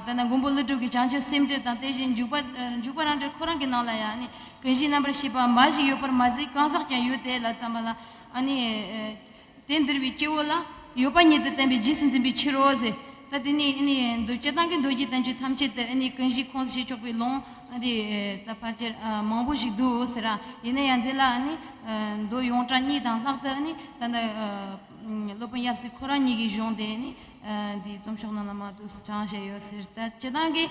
ད་ལྟ་མགོན་པོ་ཀླུ་སྒྲུབ་ཀྱི་བྱང་ཆུབ་སེམས་འགྲེལ་དང་དེ་བཞིན་འཇུག་པ་རང་འགྲེལ་ཁོ་རང་གི་ནང་ལ་ཡང་གང་ཞིག་རྣམ་པར་ཤེས་པ་འབའ་ཞིག་ཡོད་པར་མ་ཟད་གང་ཟག་ཀྱང་ཡོད་དེ་ལ་བརྩམས་པ་ལ། དེས་འདིར་བའི་སྐྱེ་བོ་ལ། ཡོད་པ་ཉིད་དུ་བསྟན་པའི་རྗེས་སུ་འཛིན་པའི་ཕྱིར་རོ། ད་དེ་ནས་འདུ་བྱེད་དང་གི་འདུ་བྱེད་དང་བཅུད་ཐམས་ཅད་དུ་ཀུན་གཞིའི་ཁོངས་སུ་བྱེད་ཆོག་པའི་ལུང། ད་ཕར་ཆེར་མང་པོ་ཞིག་འདུག་ཟེར། ཡིན་ན་ཡང་དེ་ལ་མདོ་ཡོངས་གྲགས་གཉིས་དང་ལྷག་ཏུ་ད་ལྟ་སློབ་དཔོན་ཡབ་སྲས་ཁོ་རང་གཉིས་ཀྱི་གཞུང་དེ་འདིའི་རྩོམ་ཤོག་ནང་ལ་མ་གཏོགས་སུ་དྲངས་བཞེད་ཡོད་ཟེར། ད་བྱེད་དང་གི།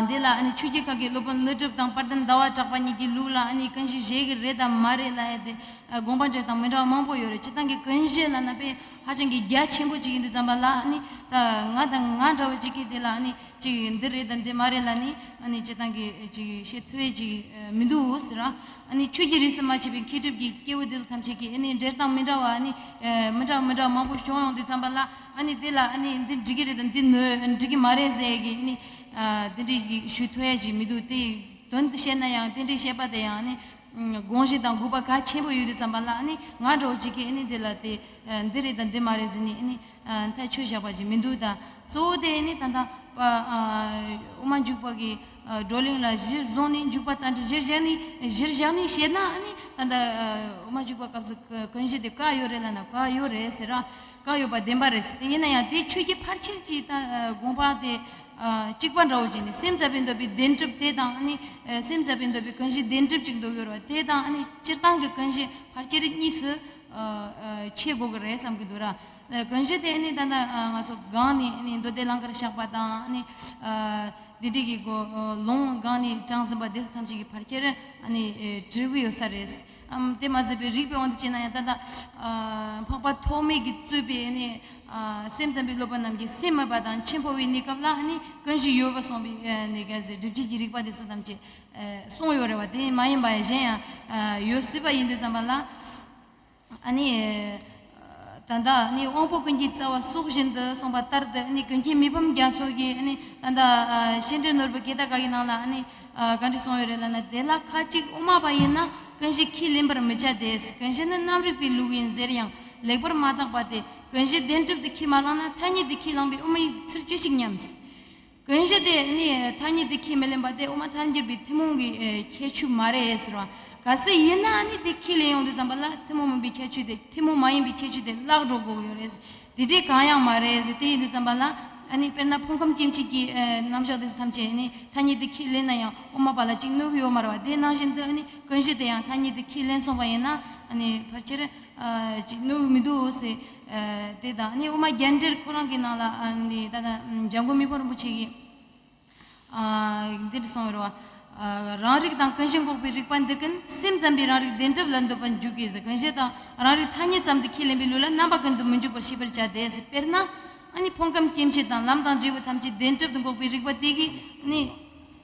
འདི་ལ་ཆོས་རྒྱལ་ཁག་གི་སློབ་དཔོན་ཀླུ་སྒྲུབ་དང་དཔལ་ལྡན་ཟླ་བ་གྲགས་པ་གཉིས་ཀྱི་ལུགས་ལ་ཀུན་གཞི་བཞེས་ཀྱི་རེད་དམ་མ་རེད་ལ་ཡ་དེ་དགོངས་པ་འགྲེལ་སྟངས་མི་འདྲ་བ་མང་པོ་ཡོད་རེད་སྤྱིར་བཏང་གི་ཀུན་གཞི་ལ་ན་དཔེ་ཧ་ཅང་གི་རྒྱ་ཆེན་པོ་གཅིག་ཡིན་དུས་བརྩམས་པ་ལ་ནི་ད་ང་དང་ང་འདྲ་བ་གཅིག་གིས་དེ་ལ་ནི་ཅིག་འདི་རེད་དམ་དེ་མ་རེད་ལ་ནི་སྤྱིར་བཏང་གི་ཅིག་ཤེས་ཐུ་བས་ཅིག་མི་འདུག་ཟེར་ར། ཆོས་ཀྱི་རིས་སུ་མ་ཕྱེས་པའི་མཁས་གྲུབ་ཀྱི་སྐྱེས་བུ་དེ་ཚོ་ཐམས་ཅད་ཀྱིས་འགྲེལ་སྟངས་མི་འདྲ་བ་ནི་མི་འདྲ་བ་མང་པོ་ཤོང་ཡོང་དུས་བརྩམས་པ་ལ། ཨ་ནི་དེ་ལ་ཨ་ནི་འདི་འགྲིག་གི་རེད་དམ་འདི་ནོས་འགྲིག་གི་མ་རེད་ཟེར་གི་ཨ་ནི་དེ་འདྲི་ཞིག་ཞུ་ཐུབ་ཡ་ཞིག་མི་འདུག་དེ་དོན་དུ་བཤད་ན་ཡང་དེ་འདྲི་བཤད་པ་དེ་ཡང་ཨ་ནི་དགོངས་བཞེས་དང་སྒུག་པ་གལ་ཆེན་པོ་ཡོད་དུས་ཙམ་པ་ལ་ཨ་ནི་ང་འགྲོ་བྱེད་ཀྱི་ཨ་ནི་དེ་ལ་དེ་འདི་རེད་དམ་འདི་མ་རེད་ཟེར་ནས་ཨ་ནི་ཐལ་ཆོས་བཞག་པ་ཞིག་མི་འདུག་ད་གཙོ་བོ་དེ་ཨ་ནི་ད་ལྟ་དབུ་མ་འཇུག་པ་གི་བགྲོ་གླེང་ལ་གཞི་བཟུང་ནས་འཇུག་པ་རྩ་འགྲེལ་གཞིར་བཞག་ནས་གཞིར་བཞག་ནས་བཤད་ན་ཨ་ནི་ད་ལྟ་དབུ་མ་འཇུག་པ་སྐབས་སུ་གོན་གཞི་དེ་བཀག་ཡོད་རེད་ལ་ན་བཀག་ཡོད་རེད་ཟེར་ར། བཀའ་ཡོད་པ་བདེན་པ་རེད། ཡིན་ན་ཡང་དེ་ཆོས་ཀྱི་ཕར་ཆེར་གྱི་དགོངས་པ་དེ་གཅིག་པ་འདྲ་བོ་ཅིག་ནི་སེམས་ཙམ་པས་འདོད་པའི་བདེན་གྲུབ་དེ་དང་ནི་སེམས་ཙམ་པས་འདོད་པའི་ཀུན་གཞི་བདེན་གྲུབ་ཅིག་འདུག་གི་རེད་དེ་དང་ནི་སྤྱིར་བཏང་གི་ཀུན་གཞི་ཕར་ཆེར་གཉིས་སུ་ཕྱེ་དགོས་ཀྱི་རེད་བསམ་གྱི་འདུག་ར། ཀུན་གཞི་དེ་ནི་ད་ལྟ་ང་ཚོ་སྒང་ནས་མདོ་སྡེ་ལང་ཀར་བཞག་པ་དང་ནི་དེ་འབྲེལ་གྱི་ལུང་སྒང་ནས་དྲངས་ཟིན་པ་དེ་ཚོ་ཐམས་ཅད་ཀྱི་ཕར་ཆེར་དྲིལ་གྱི་ཡོད་ས་རེད། དེ་མ་ཟད་པའི་རིགས་པའི་དབང་དུ་བྱས་ན་ཡང་ད་ལྟ། འཕགས་པ་ཐོགས་མེད་ཀྱིས་གཙོས་པའི་སེམས་ཙམ་པའི་སློབ་པ་རྣམས་ཀྱིས་སེམས་མེད་པ་དང་འཆི་འཕོ་བའི་གནས་སྐབས་ལ་ཀུན་གཞི་ཡོད་པར་གསུངས་པས་སྒྲིབ་བྱེད་ཀྱི་རིགས་པ་དེ་ཚོ་ཐམས་ཅད་གསུངས་ཡོད་རེད་བ་དེ་མ་ཡིན་པ་གཞན་ཡང་ཡོད་སྲིད་པ་ཡིན་དུས་བསམ་པ་ལ། ད་ལྟ་ནི་དབང་པོ་ཀུན་གྱི་རྩ་བ་སྲོག་བཞིན་དུ་གསུངས་པ་ལྟར་དུ་ཀུན་མཁྱེན་མི་ཕམ་རྒྱ་མཚོ་གིས་ད་ལྟ་བཤད་འབྲས་ནོར་བུ་གད་ད་ག་གི་ནང་ལ་ག་འདྲི་གསུངས་ཡོད་རེད་ལབ་ན་དེ་ལ་ཁ་གཅིག་དབུ་མ་པ་ཡིན་ན་ཀུན་གཞི་ཁས་ལེན་པར་མི་བྱ་དེས་ཀུན་གཞི་ནི་རྣམ་རིག་པའི་ལུགས་ཡིན་ཟེར་ཡང་ལེགས་པར་མ་བརྟགས་པ་དེ་ཀུན་གཞི་བདེན་གྲུབ་དུ་ཁས་མ་བླངས་ན་ཐ་སྙད་དུ་ཁས་བླངས་པའི་དབུ་མའི་ཚུལ་ཅི་ཞིག་སྙམས། གང་ཞིག་དེ་ནི་ཐ་སྙད་དེ་ཁས་མི་ལེན་པ་དེ་དབུ་མ་ཐལ་འགྱུར་པའི་ཐུན་མོང་གི་ཁྱད་ཆོས་མ་རེད་ཟེར་བ་ག་ཟེ་ཡིན་ན་ནི་དེ་ཁས་ལེན་ཡོང་དུས་བསམ་པ་ལ་ཐུན་མོང་མིན་པའི་ཁྱད་ཆོས་དེ་ཐུན་མོང་མ་ཡིན་པའི་ཁྱད་ཆོས་དེ་བརླག་འགྲོ་དགོས་ཡོད་རེད་དེ་འདྲའི་གང་ཡང་མ་རེད་ཟེར་དེ་ཡིན་དུས་བསམ་པ་ལ་ཨ་ནི་དཔེར་ན་ཕུང་ཁམས་སྐྱེ་མཆེད་ཀྱི་རྣམ་གཞག་དེ་ཚོ་ཐམས་ཅད་ནི་ཐ་སྙད་དེ་ཁས་ལེན་ན་ཡང་དབུ་མ་པ་ལ་གཅིག་གནོད་གི་ཡོད་མ་རེད་བ་དེ་ནང་བཞིན་དུ་ནི་གང་ཞིག་དེ་ཡང་ཐ་སྙད་དེ་ཁས་ལེན་སོང་བ་ཡིན་ན་ནི་ཕར་ཆེར་གཅིག་གནོད་གི་མི་འདུག་ཟེར། དེ་དང་ནི་དབུ་མ་རྒྱན་འགྲེལ་ཁོ་རང་གི་ནང་ལ་འདི་ད་ལྟ་འཇམ་མགོན་དམུས་ཕོ་རིན་པོ་ཆེ་གིས་འདིར་གསུངས་ཡོད་རོ། རང་རིག་དང་ཀུན་གཞི་འགོག་པའི་རིག་པ་འདི་ཀུན་སེམས་ཙམ་པའི་རང་རིག་བདེན་གྲུབ་ལ་འདོད་པར་འཇུག་གི་ཀུན་གཞི་དང་རང་རིག་ཐ་སྙད་ཙམ་དུ་ཁས་ལེན་པའི་ལུགས་ལ་རྣམ་པ་ཀུན་ཏུ་མི་འཇུག་པར་ཤེས་པར་བྱ་དེ་དཔེར་ན། ཕུང་ཁམས་སྐྱེ་མཆེད་དང་ལམ་དང་འབྲས་བུ་ཐམས་ཅད་བདེན་གྲུབ་ཏུ་འགོག་པའི་རིག་པ་དེ་གིས་ནི།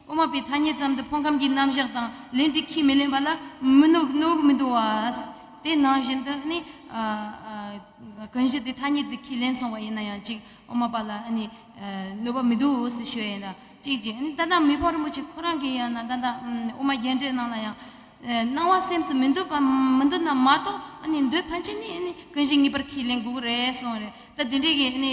དབུ་མ་པའི་ཐ་སྙད་ཙམ་དུ་ཕུང་ཁམས་ཀྱི་རྣམ་གཞག་དང་ལན་ཅིག་ཁས་མི་ལེན་པ་ལ་མི་གནོད་ནོད་མི་འདུག་བ། དེ་ནང་བཞིན་དུ་ནི། ཀུན་གཞི་དེ་ཐ་སྙད་དུ་ཁས་ལེན་སོང་བ་ཡིན་ན་ཡང་ཅིག་དབུ་མ་པ་ལ་ནི་གནོད་པ་མི་འདུག་ཟེར་ཤོས་ཡིན་ལ། ཅིག་ཅིག་ནི་ད་ལྟ་མི་ཕོ་རིན་པོ་ཆེ་ཁོ་རང་གིས་ཡང་ན་ད་ལྟ་དབུ་མ་རྒྱན་སྤྲས་ནང་ལ་ཡང། སྣང་བ་སེམས་སུ་མི་འདུག་པ་མི་འདུག་ན་མ་གཏོགས་འདོད་ཕན་ཆད་ནི་ཀུན་གཞི་ངེས་པར་ཁས་ལེན་དགོས་ཀྱི་རེད་གསུངས་རེད་ད་དེ་འདྲའི་གི་ནི།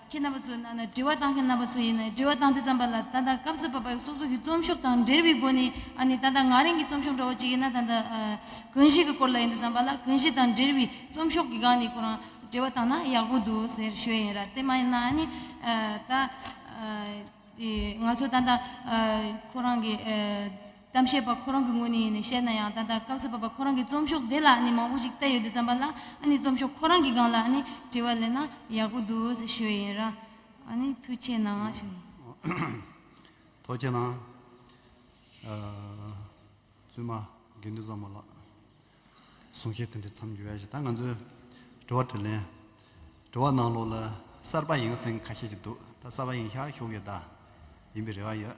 གྱི་རྣམ་པ་ཚོའི་ནང་ན་དྲི་བ་བཏང་མཁན་རྣམ་པ་ཚོ་ཡིན་ནའི་དྲི་བ་བཏང་དུས་བརྩམས་པ་ལ་ད་ལྟ་སྐབས་སུ་བབ་པའི་སོ་སོ་གི་རྩོམ་ཤོག་དང་འབྲེལ་བའི་སྒོ་ནས་ཨ་ནི་ད་ལྟ་ང་རང་གི་རྩོམ་ཤོག་འདྲ་བོ་གཅིག་ཡིན་ན་ད་ལྟ་གང་ཞིག་གི་སྐོར་ལ་ཡིན་དུ་བརྩམས་པ་ལ་གང་ཞིག་དང་འབྲེལ་བའི་རྩོམ་ཤོག་གི་སྒང་ནས་ཁོ་རང་དྲི་བ་བཏང་ན་ཡག་པོ་འདུག་ཟེར་ཞོད་ཡིན་ར་དེ་མ་ཡིན་ན་ཨ་ནི་ད་ང་ཚོ་ད་ལྟ་ཁོ་རང་གི། གཏམ་བཤད་པ་ཁོ་རང་གི་ངོས་ནས་ནི་བཤད་ན་ཡང་ད་ལྟ་སྐབས་སུ་བབ་པ་ཁོ་རང་གི་རྩོམ་ཤོག་དེ་ལ་ནི་མང་པོ་ཞིག་བལྟས་ཡོད་དུས་བརྩམས་པ་ལ་ནི་རྩོམ་ཤོག་ཁོ་རང་གི་སྒང་ལ་ནི་དྲི་བ་གླེང་ན་ཡག་པོ་འདུག་ཟེར་ཞོར་ཡིན་ར་ནི་ཐུགས་ཆེ་གནང་ཞུ། ཐུགས་ཆེ་གནང། བཙུན་མ་དགེ་འདུན་ཚང་མ་ལགས། གསུང་བཤད་དེ་འདྲའི་མཚམས་བརྒྱུད་ཡ་ཞིག་ད་ང་ཚོའི་དྲི་བ་དྲིས་ལན། དྲི་བ་གནང་ལུགས་ལ་གསར་པ་ཡིན་སེང་ཁ་ཤས་ཤིག་འདུག་ད་གསར་པ་ཡིན་ཤག་ཤོག་གི་ད་ཡིན་པའི་རེ་བ་ཡོད།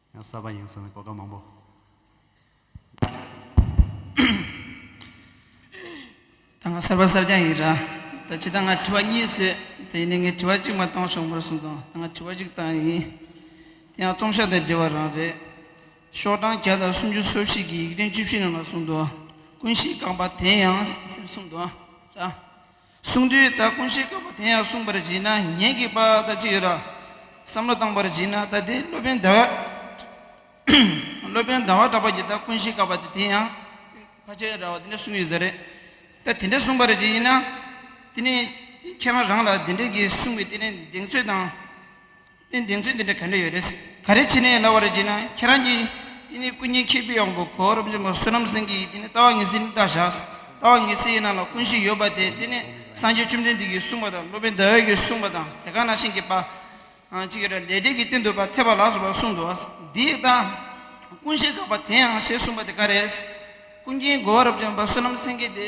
ཡང་གསར་པ་ཡིན་ཟེར་ན་གོ་སྐབས་མང་པོ། ད་ང་གསར་པ་གསར་རྐྱང་ཡིན་རང། ད་ཕྱི་ད་ང་དྲི་བ་གཉིས་བཟོས། དེ་ཡིན་ནས་ངས་དྲི་བ་གཅིག་མ་བཏང་ཆོག་མོད་གསུངས་དང་ད་ང་དྲི་བ་གཅིག་བཏང་ཡིན། དེ་ཡང་རྩོམ་ཤ་དང་འབྲེལ་བ་རང་རེད། ཤོག་གྲངས་བརྒྱ་དང་སུམ་ཅུ་སོ་བཞི་གི་ཡིག་ཕྲེང་བཅུ་བཞི་རྣམས་ལ་གསུངས་དང། ཀུན་གཞིའི་རྐང་པ་དེ་ཡང། གསུངས་དང་རང། གསུང་དུས་ད་ཀུན་གཞི་བཀོད་པ་དེ་ཡང་གསུངས་པར་བགྱིས་ན་ཉན་གྱི་པ་ད་ཅི་ཡོད་ལ། བསམ་བློ་བཏང་པར་བགྱིས་ན་ད་དེ་སློབ་དཔོན་ཟླ་བ། སློབ་དཔོན་ཟླ་བ་གྲགས་པ་གྱིས་ད་ཀུན་གཞི་བཀག་པ་དེ་དེ་ཡང། ཕ་ཆེ་ར་བ་དེ་འདྲས་གསུངས་ཡོད་ས་རེད། ད་དེ་འདྲས་གསུངས་པར་བགྱིས་ཡིན་ན། དེ་ནི་ཁྱེད་རང་རང་ལ་དེ་འདྲས་ཀྱིས་གསུངས་པའི་དེ་ནི་གདེང་ཚོད་དང། ཏན་ཏན་ཚུལ་འདི་འདྲ་ག་འདྲ་ཡོད་རེད། ག་རེ་བྱས་ནས་ལབ་བ་རེད་ཅེ་ན་ཁྱེད་རང་གིས་དེ་ནི་ཀུན་མཁྱེན་མཁས་པའི་དབང་པོ་གོ་རབ་འབྱམས་པ་བསོད་ནམས་སེང་གེ་ཡིས་དེ་ནི་ལྟ་བ་ངེས་ཚིག་ནི་བརྟག་བཞག་ལྟ་བ་ངེས་ཚིག་ཡིན་ན་ལ་ཀུན་གཞི་ཡོད་པ་དེ་དེ་ནི་སངས་རྒྱས་བཅོམ་ལྡན་འདས་ཀྱིས་གསུངས་པ་དང་སློབ་དཔོན་ཟླ་བས་ཀྱིས་གསུངས་པ་དང་དེ་ག་ན་ཤིང་གི་པ་གཅིག་གི་ལས་འབྲས་ཀྱི་སྟེང་དུ་པ་ཐེབས་པ་ལགས་སོ་བར་གསུངས་འདུག་འདིའི་རྟགས་ཀུན་གཞི་འགག་པ་དེ་ཡང་ཞེས་གསུངས་པ་དེ་ག་རེད། ཀུན་མཁྱེན་གོ་བ་རབ་འབྱམས་པ་བསོད་ནམས་སེང་གེ་དེ།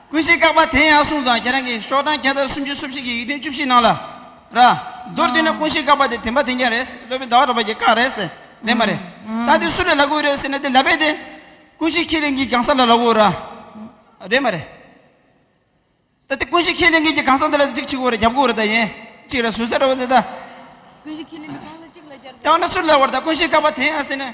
ཀུན་གཞི་བཀག་པ་དེ་ཡང་གསུངས་ཙང་ཁྱེད་རང་གིས་ཤོག་གྲངས་བརྒྱ་དང་སུམ་ཅུ་སོ་བཞི་གི་ཡིག་དོན་བཅུ་བཞི་ནང་ལ། ར། མདོར་བསྡུས་ན་ཀུན་གཞི་བཀག་པ་དེ་དེ་འབའ་དེ་འགྱངས་རེད། སློབ་དཔོན་ཟླ་བ་གྲགས་པ་ཀྱིས་བཀག་རེད་ཟེར། ལན་མ་རེད། ད་དེ་སུ་ལས་ལ་དགོས་རེད་ཟེར་ན་དེ་ལ་བས་ཏེ། ཀུན་གཞི་ཁས་ལེན་གྱིས་འགྱངས་ས་ལ་ལ་བོ། ར། རེད་མ་རེད། ད་དེ་ཀུན་གཞི་ཁས་ལེན་གྱིས་ཀྱིས་འགངས་ས་འདི་ལ་གཅིག་ཕྱིགས་བོ་ར་རྒྱབ་དགོས་ར་ད་ཡིན། གཅིག་ར་ཟུར་ཟ་ར་བོ་དེ་ད། ཀུན་གཞི་ཁས་ལེན་གྱིས་འགངས་ས་གཅིག་ལ་སྦྱར་དགོས། ད་འོ་ན་སུ་ལ་ལ་བར་ད་ཀུན་གཞི་བཀག་པ་དེ་ཡང་ཟེར་ནས།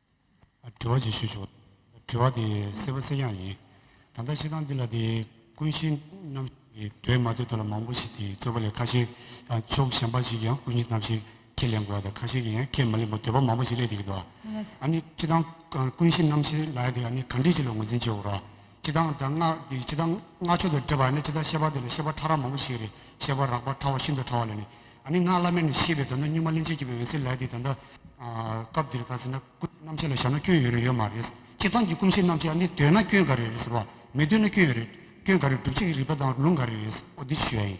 དྲི་བ་ཅིག་ཞུ་ཆོག་དྲི་བ་དེ་གསལ་བ་གསལ་རྐྱང་ཡིན། ད་ལྟ་ཤི་སྟངས་འདི་ལ་དེ་ཀུན་གཞི་རྣམ་ཤེས་ཀྱི་དོན་མ་ལྟོས་དོན་ལ་མང་པོ་ཞིག་དེ་རྩོད་པ་ལས་ཁ་ཤས་ཀྱང་ཆོག་གཞན་པ་ཞིག་ཀྱང་ཀུན་གཞི་རྣམ་ཤེས་ཁས་ལེན་དགོས་པ་དང་ཁ་ཤས་ཀྱིས་ཡང་ཁས་མི་ལེན་པར་འདོད་པ་མང་པོ་ཞིག་སླེབས་ཡོད་ཀྱི་འདུག་ཨ་ནི་ཤི་སྟངས་ཀུན་གཞི་རྣམ་ཤེས་ལ་དེ་ཨ་ནི་ག་འདྲིའི་ཆེད་ལ་ངོས་འཛིན་བྱེད་འོས་རོགས། སྤྱི་གདངས་དང་སྔགས་ཀྱི་སྤྱི་གདངས་སྔགས་ཆོས་དང་འདྲེས་པ་ནི་ཅི་ལྟར་ཤེས་པ་དེ་ལས་ཤེས་པ་ཕྲ་རགས་མང་པོ་ཞིག་རེད་ཤེས་པ་རགས་པ་ཕྲ་བ་ཤིན་ཏུ་ཕྲ་བ་ལས་ནི་ནི་སྔགས་བླ་མེད་ནས་ཤེས་པའི་དོན་དུ་སྙུག་མ་ལིང་ཆེན་གྱིས་པའི་འོད་ཟེར་ལས་དེ་ད་ལྟ་སྐབས་འདིར་ག་ཟེར་ན་ཀུན་གཞི་རྣམ་བཤད་ལ་བཞག་ན་སྐྱོན་ཡོད་རེད་ཡོད་མ་རེད། སྤྱི་གདངས་ཀྱི་ཀུན་གཞི་རྣམ་བཤད་ནི་འདོད་ན་སྐྱོན་ག་རེ་རེད་ཟེར་བ་མི་འདོད་ན་སྐྱོན་ཡོད་རེད་སྐྱོན་ག་རེ་སྒྲུབ་བྱེད་ཀྱི་རིགས་པ་དང་ལུང་ག་རེ་རེད་འོ་འདི་ཞུ་ཡ་ཡིན།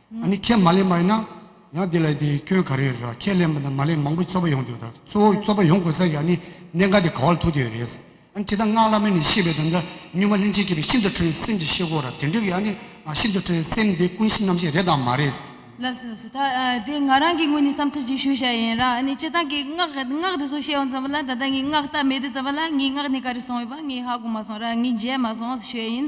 ཨ་ནི་ཁྱེད་མ་ལས་མ་ཡིན་ན། ཡང་དེ་ལས་དེའི་སྐྱོན་ག་རེ་རེད། ཁྱེད་ལས་མ་ནི་མ་ལས་མང་པོ་ཚོ་པ་ཡོང་དུས་དང་གཙོ་བོ་གཙོ་པ་ཡོང་དགོས་ས་ཡང་ནི་གནད་འགག་དེ་ག་བ་ལ་ཐུག་དུས་རེད། ཨ་ནི་དེ་ལྟར་སྔགས་བླ་མས་ནི་ཤེས་པའི་དོན་དང་གཉུག་མ་ལྷན་ཅིག་སྐྱེས་པའི་ཤིན་ཏུ་ཁྲོ་བའི་སེམས་ཀྱི་ཤེས་སྒོ་ར་དེ་འདྲ་གི་ཨ་ནི་ཤིན་ཏུ་ཁྲོ་བའི་སེམས་དེ་ཀུན་གཞི་རྣམ་ཤེས་རེད་དང་མ་རེད། ལ་སོ་སོ་ད་དེ་ང་རང་གི་ངོས་ནས་བསམ་ཚུལ་ཅིག་ཞུ་བྱ་ཡིན་རང་ཨ་ནི་སྤྱི་དང་གི་སྔགས་སྔགས་དེ་ཚོ་ཤེས་ཡོང་ཙམ་པ་ལ་ད་ལྟ་ངས་སྔགས་བཏགས་མེད་དུས་ཙམ་པ་ལ་ངའི་སྔགས་ནི་ག་རེ་སོང་ཡོད་པ་ངས་ཧ་གོ་མ་སོང་ར་ངས་མཇལ་མ་སོང་ཞོད་ཡིན།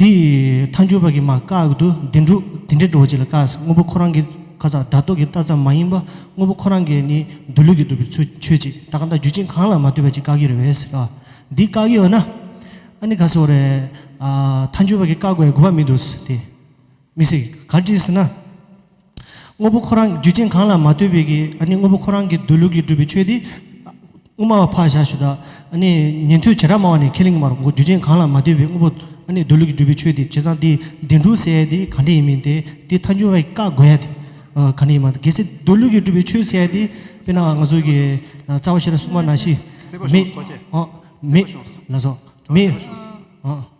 དེ་ཡི་མཐའ་མཇུག་བར་གྱི་མ་བཀག་གི་དུ་བདེན་དྲུག་དེ་འདྲའི་འགྲོ་བ་ཅིག་ལ་བཀག་ཟེར་དངོས་པོ་ཁོ་རང་གི་ཁ་ཚ་སྒྲ་རྟོག་གི་ལྟ་ཙམ་མ་ཡིན་པ་དངོས་པོ་ཁོ་རང་གི་ནི་མདོ་ལུས་ཀྱི་བསྡུ་བའི་ཚུལ་འཆོས་ཅིག་ད་ག་འདའ་རྒྱུ་ཅན་གང་ལ་མ་ལྟོས་པ་ཅིག་བཀག་གི་རེད་བས་ཟེར་ཨ། འདི་བཀག་གི་ཡོད་ན། ཨ་ནི་ག་ཟེ་བ་རེད། མཐའ་མཇུག་བར་གྱི་བཀག་དགོས་དགོས་པ་མི་འདུག་ཟེར་དེ། མི་སྲིད། ག་དྲིས་ཟེར་ན། དངོས་པོ་ཁོ་རང་གི་རྒྱུ་རྐྱེན་གང་ལ་མ་ལྟོས་པའི་གི་ཨ་ནི་དངོས་པོ་ཁོ་རང་གི་སྡོད་ལུགས་ཀྱིས་གྲུབ་པའི་ཆོས་འདི། དབུ་མ་བ་ཕག་ཞྭ་ཞུ་དག་ཨ་ནི་ཉན་ཐོས་བྱེ་བྲག་སྨྲ་བ་ནི་ཁས་ལེན་གྱི་མ་རུ་མགོ་རྒྱུ་རྐྱེན་གང་ལ་མ་ལྟོས་པའི་དངོས་པོ་ཨ་ནི་སྡོད་ལུགས་ཀྱིས་གྲུབ་པའི་ཆོས་འདི་བྱས་ཙང་འདིའི་བདེན་གྲུབ་ཟེར་ཡས་འདི་ག་འདྲས་ཡིན་མིན་དེ་འདི་མཐའ་འཁྱོལ་བ་ཡི་བཀའ་བསྒོ་ཡས་དེ་ག་འདྲས་ཡིན་མ་ད་གལ་སྲིད་སྡོད་ལུགས་ཀྱིས་གྲུབ་པའི་ཆོས་ཟེར་ཡས་འདི་དཔེར་ན་ང་ཚོ་གི་རྩ་བ་བཞི་ལ་གསུམ་པ་ན་ཤི་མེད་ཨོ་མེད་ལ་སོགས་མེད་ཨོ།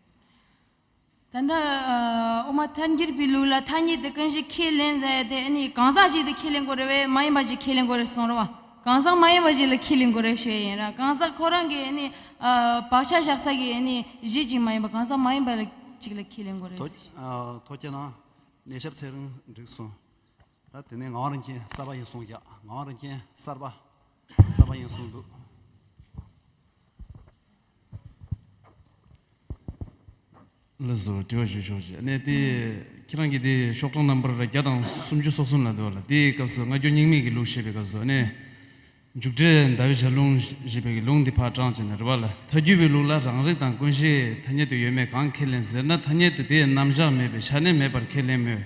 ད་ལྟ་ཨོ་མ་ཐཱན་གྱིར་པའི་ལུགས་ལ་ཐ་སྙད་དེ་གང་ཞིག་ཁས་ལེན་བྱ་ཡོད་དེ་ནི་གང་ཟག་ཅིག་ཏུ་ཁས་ལེན་དགོས་རེད་བས་མ་ཡིན་པ་ཞིག་ཁས་ལེན་དགོས་རེད་གསུངས་རུང་གང་ཟག་མ་ཡིན་པ་ཞིག་ལ་ཁས་ལེན་དགོས་རེད་ཞེས་ཡིན་རང་གང་ཟག་ཁོ་རང་གི་བག་ཆགས་བཞག་ས་ཀྱི་གཞི་ཅིག་མ་ཡིན་པར་གང་ཟག་མ་ཡིན་པ་ཅིག་ལ་ཁས་ལེན་དགོས་རེད། དོ་རྒྱ་ནང་ནས་ཞབས་ཚད་རིང་འགྲིག་སོང། ད་དེ་ནས་ངག་རང་མཁྱེན་གསར་པ་ཡིན་གསུངས་ཀྱང་ངག་རང་མཁྱེན་གསར་པ་གསར་པ་ཡིན་གསུངས་འདུག། ལས་སུ་དྲི་བ་ཞུ་ཆོག་ཅེས་གནས་དེ་ཁྱེད་རང་གིས་དེ་ཤོག་གྲངས་རྣམ་པར་བརྒྱ་དང་སུམ་ཅུ་སོ་གསུམ་ལ་འདོད་ལ་དེའི་སྐབས་སུ་སྔ་འགྱུར་རྙིང་མིག་གི་ལུགས་ཞེས་པའི་སྐབས་སུ་གནས། མཇུག་འབྲས་ཟླ་བའི་ཞར་ལུང་ཞེས་པའི་ལུང་འདི་ཕར་དྲངས་ཅེས་ན་རེ་བ་ལ་མཐའ་རྒྱུད་པའི་ལུགས་ལ་རང་རིག་དང་ཀུན་གཞི་ཐ་སྙད་དུ་ཡོད་མེད་གང་ཁས་ལེན་ཟེར་ན་ཐ་སྙད་དུ་དེའི་རྣམ་གཞག་མེད་པའི་ཆ་ནས་མེད་པར་ཁས་ལེན་མོད།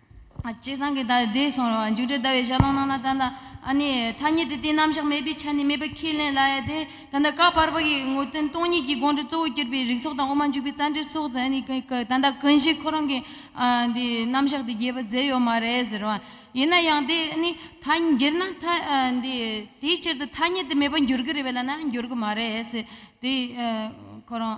ཅེས་གསང་གི་བརྡ་བཟླས་སོང་རོང་མཇུག་འབྲས་ཟླ་བའི་ཞལ་ལུང་གནང་ན་ད་ལྟ་ཨ་ནི་ཐ་སྙད་དེ་ལྟའི་རྣམ་གཞག་མེད་པའི་ཆ་ནས་མེད་པ་ཁས་ལེན་སླ་ཡ་དེ་ད་ལྟ་ཀ་བར་བ་གི་ངོ་སྟོན་སྟོང་ཉིད་ཀྱི་དགོངས་འགྲེལ་གཙོ་བོ་གྱུར་པའི་རིགས་སོགས་དང་དབུ་མ་འཇུག་པའི་རྩ་འགྲེལ་སོགས་ཟེར་ནས་ད་ལྟ་ཀུན་གཞི་ཁོ་རང་གི་རྣམ་གཞག་དེ་རྒྱས་པར་མཛད་ཡོད་མ་རེད་ཟེར་བ་ཡིན་ན་ཡང་དེ་ནི་སྒྱེར་ན་དེའི་ཕྱིར་དུ་ཐ་སྙད་དེ་མེད་པར་འགྱུར་གྱི་རེད་པས་ལ་ན་འགྱུར་གྱི་མ་རེད་ཟེར་དེ་ཁོ་རང་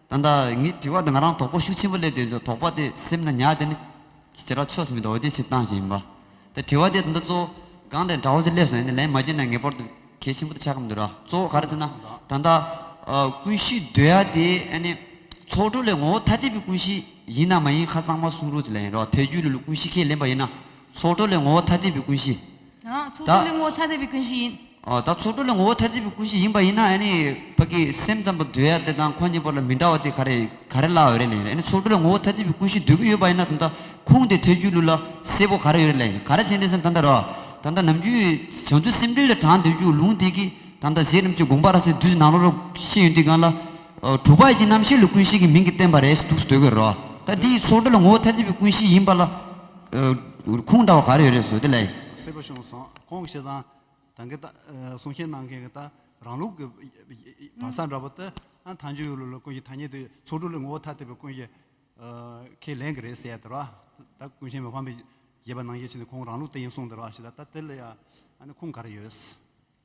ད་ལྟ་ངས་དྲི་བ་འདི་ང་རང་དོགས་པ་ཤུགས་ཆེན་པོ་སླེབས་བསྡད་འདུག་དོགས་པ་དེ་སེམས་ན་ཉག་དེ་ནི། བྱེ་བྲག་ཕྱོགས་སུ་མི་འདུག་འོད་སྡེར་ཕྱིར་བཏང་བཞིན་ཡིན་པ། ད་དྲི་བ་དེ་ད་ལྟ་གཙོ་བོ་སྒང་དེར་དགྲ་བོ་ཞིག་སླེབས་སོང་ཡིན་ན་ལན་མ་བསྐྱོན་ན་ངེས་པར་དུ་གལ་ཆེན་པོ་དེ་ཆགས་ཀྱི་མི་འདུག་ར་གཙོ་བོ་ག་རེ་ཟེར་ན། ད་ལྟ། ཀུན་གཞིའི་འདོད་ཡ་དེ་ཨ་ནི། ཚོགས་དྲུག་ལས་ངོ་བོ་ཐ་དད་པའི་ཀུན་གཞི་ཡིན་ནམ་མ་ཡིན་ཁ་གཙང་མ་གསུང་རོགས་ཅིག་ལན་རོགས་ཐལ་རྒྱུད་ལུས་ལ་ཀུན་གཞི་ཁས་ལེན་པ་ཡིན་ན། ཚོགས་དྲུག་ལས་ངོ་བོ་ཐ་དད་པའི་ཀུན་གཞི། ཚོགས་དྲུག་ལས་ངོ་བོ་ཐ་དད་པའི་ཀུན་གཞི་ཡིན། ད་ཚོགས་དྲུག་ལས་ངོ་བོ་ཐ་དད་པའི་ཀུན་གཞི་ཡིན་པ་ཡིན་ན་ཨ་ནི། བ་ཀི་སེམས་ཙམ་པོ་འདོད་ཡ་དེ་དང་ཁོང་གཉིས་པོ་ལ་མི་འདྲ་བ་དེ་ག་རེ་ག་རེ་ལའོ་རེད་ལན་ཡིན་ཨ་ནི་ཚོགས་དྲུག་ལས་ངོ་བོ་ཐ་དད་པའི་ཀུན་གཞི་འདོད་ཀི་ཡོད་པ་ཡིན་ན་ད་ལྟ་ཁུངས་དེ་ཐལ་རྒྱུའི་ལུགས་ལ་གསལ་པོ་ག་རེ་ཡོད་རེད་ལན་ཡིན་ག་རེ་བྱེད་འདོད་སེམས་ད་ལྟ་རོ། ད་ལྟ་ནམ་རྒྱུན་བྱང་ཆུབ་སེམས་འགྲེལ་ལས་དྲངས་འདོད་རྒྱུ་ལུང་དེ་གི་ད་ལྟ་ཞེས་རྣམས་ཀྱི་དགོངས་པ་ར་ཆེ་དུས་ནང་ལོགས་ལོགས་ཤེས་ཡོན་དེ་གང་ལ། དྲུག་པ་ཀྱི་རྣམ་ཤེས་ལ་ཀུན་གཞི་གི་མིང་གི་བསྟན་པ་རེད་ཟེར་འདུག་སྡོད་གི་རོ། ད་འདི་ཡི་ཚོགས་དྲུག་ལས་ངོ་བོ་ཐ་དད་པའི་ཀུན་གཞི་ཡིན་པ་ལ། ཁུངས་འདྲ་བ་ག་རེ་ཡོད་རེད་བཟོས་ཏེ་ལས། སྲིད་པ་བྱུང་སོང་ཁོང་གིས་བཤད་སྟངས་དང་གསུང་བཤད་གནང་མཁན་གྱི་ད་རང་ལུགས་ཀྱི་བ་ས་འདྲ་བོ་དེ་ཨ་ཐང་ཆུ་ལོག་ལ་ཀུན་གྱིས་ཐ་སྙད་དེ་ཚོགས་དྲུག་ལ་ངོ་བོ་ཐ་དད་པའི་ཀུན་གཞི་ཁས་ལེན་གྱི་རེད་ཟེར་ཡ་ད་ར་ད་ཀུན་གཞན་མི་ཕམ་པའི་བཞེད་པ་གནང་རྒྱུ་བྱས་ནས་ཁོང་རང་ལུགས་དེ་ཡིན་གསུངས་ད་ར་བྱས་ད་ད་དེ་ལ་ཡང་ཨ་ནི་ཁུངས་ག་རེ་ཡོད།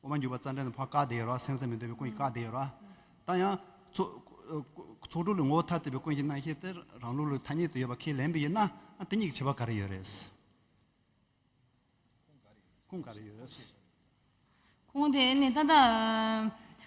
དབུ་མ་འགྱུར་བ་རྩ་འགྲེལ་དང་བྷ་ག་དེའི་རོ་སེང་སེང་མི་འདོད་པའི་ཀུན་གཞི་བཀག་དེའི་རོ། དང་ཡང། ཚོགས་དྲུག་ལས་ངོ་བོ་ཐ་དད་པའི་ཀུན་གཞི་རྣམ་ཤེས་དེ་རང་ལུགས་ལུགས་ཐ་སྙད་དུ་ཡོད་པ་ཁས་ལེན་པ་ཡིན་ན་དེ་གཉིས་ཀྱི་བྱ་བ་ག་རེ་ཡོད་རེད། ཁུངས་ག་རེ་ཡོད་རེད། ཁུངས་དེ་ནི་ད་ལྟ།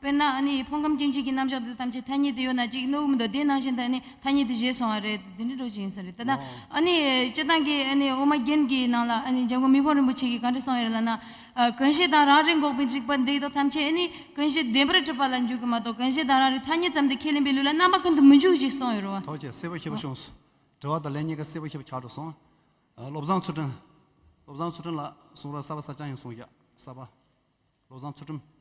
དཔེར་ན་ཨ་ནི་ཕུང་ཁམས་སྐྱེ་མཆེད་ཀྱི་རྣམ་གཞག་འདི་དག་ཐམས་ཅད་ཐ་སྙད་དུ་ཡོད་ན་གཅིག་གནོད་བུ་མདོ་སྡེའི་ནང་བཞིན་དུ་ཨ་ནི་ཐ་སྙད་དུ་བཞེད་སོང་བ་རེད་དེ་འདི་འདྲའི་སྒྲོག་བྱེད་ཡིན་ས་རེད་ད་ལྟ་ཨ་ནི་སྤྱིར་བཏང་གི་ཨ་ནི་དབུ་མ་རྒྱན་གྱི་ནང་ལ་ཨ་ནི་འཇམ་མགོན་མི་ཕོ་རིན་པོ་ཆེ་གིས་ག་འདྲ་གསུངས་ཡོད་རེད་ལབ་ན། གོན་བཞེད་དང་རང་རེས་འགོག་པའི་རིགས་པ་འདི་དག་ཐམས་ཅད་ཨ་ནི་གོན་བཞེད་བདེན་པར་གྲུབ་པ་ལ་འཇུག་གི་མ་གཏོགས་གོན་བཞེད་དང་རང་རེས་ཐ་སྙད་ཙམ་དུ་ཁས་ལེན་པའི་ལུགས་ལ་རྣམ་པ་ཀུན་ཏུ་མི་འཇུག་ཅེས་གསུངས་ཡོད་རོ། ཐོགས་བཅས་གསལ་པོ་ཤེས་པ་བྱུང་སོང། དྲི་བ་དང་ལན་གཉིས་ཀ་གསལ་པོ་ཤེས་པ་ཆགས་འགྲོ་སོང། བློ་བཟང་ཚུལ་ཁྲིམས། བློ་བཟང་ཚུལ་ཁྲིམས་ལགས་གསུང་ར་གསར་པ་གསར་རྐྱང་ཡིན་གསུངས་བཞག་གསར་པ། བློ་བཟང་ཚུལ་ཁྲིམས།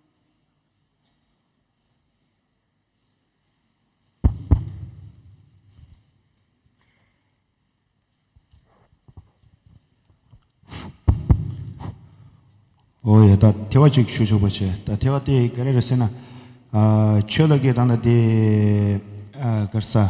ཨོ་ཡ། ད་ཐེ་བ་གཅིག་ཞུ་ཆོག་པ་བྱས། ད་ཐེ་བ་དེ་ག་རེ་རེད་ཟེར་ན། ཁྱོད་ལ་དགེ་དང་ན་དེ། དཀར་ས།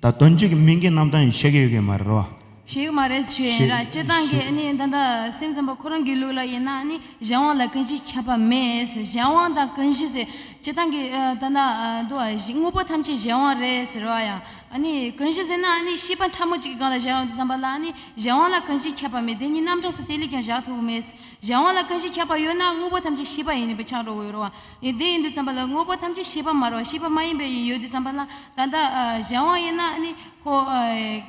ད་དོན་གཅིག་གི་མིང་གི་རྣམ་གྲངས་ཡིན་ཤེས་ཀྱི་ཡོད་ཀྱི་མ་རེད་རོ། ཤེས་ཀྱི་མ་རེད་ཟེར་ཞོར་ཡིན་ར་སྤྱིར་བཏང་གི་ཨ་ནི་ད་ལྟ་སེམས་ཙམ་པ་ཁོ་རང་གི་ལུགས་ལ་ཡིན་ན་ཨ་ནི་གཞན་དབང་ལ་ཀུན་གཞི་ཁྱབ་པ་མེད་ཟེར་གཞན་དབང་དང་ཀུན་གཞི་ཟེར་སྤྱིར་བཏང་གི་ད་ལྟ་འདུག་བ་དངོས་པོ་ཐམས་ཅད་གཞན་དབང་རེད་ཟེར་བ་ཡང་ཨ་ནི་ཀུན་གཞི་ཟེར་ན་ཨ་ནི་ཤེས་པ་ཕྲ་མོ་གཅིག་གི་སྒང་ལ་གཞན་དབང་དུ་བསམ་པ་ལ་ཨ་ནི་གཞན་དབང་ལ་ཀུན་གཞི་ཁྱབ་པ་མེད་དེ་གཉིས་རྣམ་གྲངས་སུ་དེ་ལས་ཀྱང་བཞག་ཐུབ་མེད་གཞན་དབང་ལ་ཀུན་གཞི་ཁྱབ་པ་ཡོད་ན་དངོས་པོ་ཐམས་ཅད་ཤེས་པ་ཡིན་པའི་ཆ་འགྲོ་འོས་རོ། ཡིན་འདི་ཡིན་དུ་བརྩམས་པ་ལ་དངོས་པོ་ཐམས་ཅད་ཤེས་པ་མ་རུང་བ་ཤེས་པ་མ་ཡིན་པའི་ཡིན་ཡོད་དུ་བརྩམས་པ་ལ་ད་ལྟ་གཞན་དབང་ཡིན་ན་ནི་ཁོ།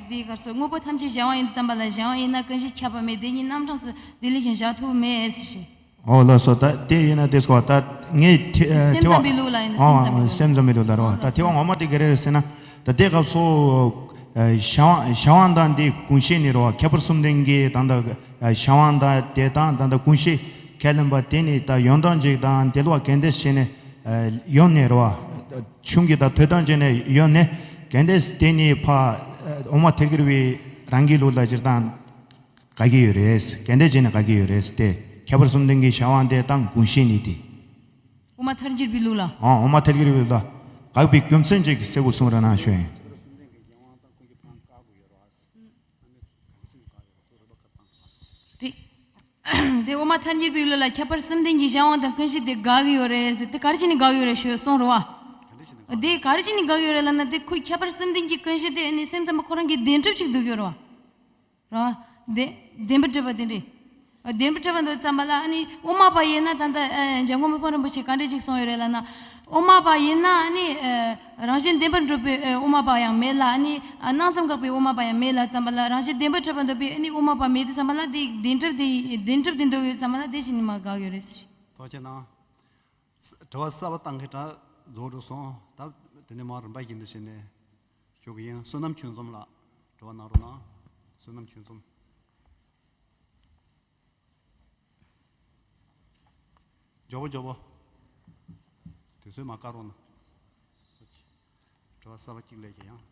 དེ་གར་སོགས་དངོས་པོ་ཐམས་ཅད་གཞན་དབང་ཡིན་དུ་བརྩམས་པ་ལ་གཞན་དབང་ཡིན་ན་ཀུན་གཞི་ཁྱབ་པ་མེད་དེ་ཉིད་རྣམ་གྲངས་སུ་འདི་ལས་གཞན་བཞག་ཐུག་མེད་ཟེར་ཞིང། འོ་ལོ་སོ་ད་དེ་ཡིན་ན་དེ་སོ་ད་ངས་ཐེ་བ། སེམས་ཙམ་པའི་ལུགས་ལ་ཡིན་ན་སེམས་ཙམ་པའི་ལུགས་ལ། སེམས་ཙམ་པའི་ལུགས་ལ་རོ། ད་ཐེ་བ་ངོ་མ་དེ་ག་རེ་རེད་ཟེར་ན། ད་ལྟའི་སྐབས་སུ། གཞན་དབང་དང་དེའི་ཀུན་ཤེས་ནི་རོ་བ་ཁྱད་པར་གསུམ་ལྡན་གྱི་དང་དང། གཞན་དབང་དང་དེ་དང་དང་དང་ཀུན་ཤེས་ཁས་ལེན་པ་དེ་ནི་དང་ཡོན་དང་འཇིག་དང་དེལ་བ་གན་དེས་བྱས་ནས་ཡོན་ནི་རོ་བ། ཆུང་གི་དང་ཐོས་དང་བཅས་ནས་ཡོན་ནི་གན་དེས་དེ་ནི་ཕ། འོ་མ་ཐལ་ཀིར་བའི་རང་གི་ལུགས་ལ་སྤྱིར་བཏང། ག་གི་ཡོད་རེད། གན་དེས་བྱས་ནས་ག་གི་ཡོད་རེད་དེ། ཁྱད་པར་གསུམ་ལྡན་གྱི་གཞན་དབང་དེ་དང་ཀུན་ཤེས་ནི་དེ། ཨོ་མ་ཐར་འགྱུར་བི་ལུ་ལ། ཨོ་མ་ཐར་འགྱུར་བི་ལུ་ལ། དགག་པའི་རྒྱུ་མཚན་གཅིག་གིས་སྲས་བུ་གསུམ་རང་སྣང་ཤོད། དེ་ཨོ་མ་ཐར་འགྱུར་བི་ལུ་ལ་ཁྱད་པར་གསུམ་ལྡན་གྱི་གཞན་དབང་དང་ཀུན་གཞི་དེ་དགག་གི་ཡོད་རེད་ཟེར་དེ་ག་རེ་བྱས་ནས་དགག་ཡོད་རེད་ཤོད་གསུངས་རོགས་ཨ། དེ་ག་རེ་བྱས་ནས་དགག་ཡོད་རེད་ལབ་ན་དེ་ཁོའི་ཁྱད་པར་གསུམ་ལྡན་གྱི་ཀུན་གཞི་དེ་ཨེ་ནས་སེམས་ཙམ་པ་ཁོ་རང་གི་བདེན་གྲུབ་ཅིག་འདུག་གི་རེད་བ། བདེན་པར་སྤྲོས་པ་དེ་འདྲས། བདེན་པར་སྤྲོས་པ་འདུག་བསམ་པ་ལ་ཨ་ནི་དབུ་མ་པ་ཡིན་ན་ད་ལྟ་འཇམ་མགོན་དཔལ་རིན་པོ་ཆེ་ག་འདྲས་ཅིག་གསུངས་ཡོད་རེད་ལབ་ན། དབུ་མ་པ་ཡིན་ན་ཨ་ནི་རང་བཞིན་བདེན་པར་འགྲུབ་པའི་དབུ་མ་པ་ཡང་མེད་ལ་ཨ་ནི་སྣང་ཙམ་འགག་པའི་དབུ་མ་པ་ཡང་མེད་ལ་བསམ་པ་ལ་རང་བཞིན་བདེན་པར་སྤྲོས་པ་འདུག་པས་ཨ་ནི་དབུ་མ་པ་མེད་དུ་བསམ་པ་ལ་དེ་བདེན་གྲུབ་དེ་བདེན་གྲུབ་དེ་འདུག་ཡོད་བསམ་པ་ལ་དེ་བཞིན་མ་འགག་ཡོད་རེད། དོགས་ཅན་དང། དྲི་བ་གསར་པ་བཏང་མཁན་དག་རྫོགས་འགྲོ་སོང། ད་དེ་ནས་མང་རིམ་པ་བཞིན་དུ་བྱས་ནས། ཞོ་གི་ཡང་བསོད་ནམས་ཆོས་འཛོམས་ལགས་བྲོ་བ་གནང་རོགས་གནང། བསོད་ནམས་ཆོས་འཛོམས། ཇོ་བོ་ཇོ་བོ། དུས་ཚོད་མ་བཀག་རོགས་གནང། བྲོ་བ་གསར་བ་གཅིག་ལས་ཀྱི་ཡང།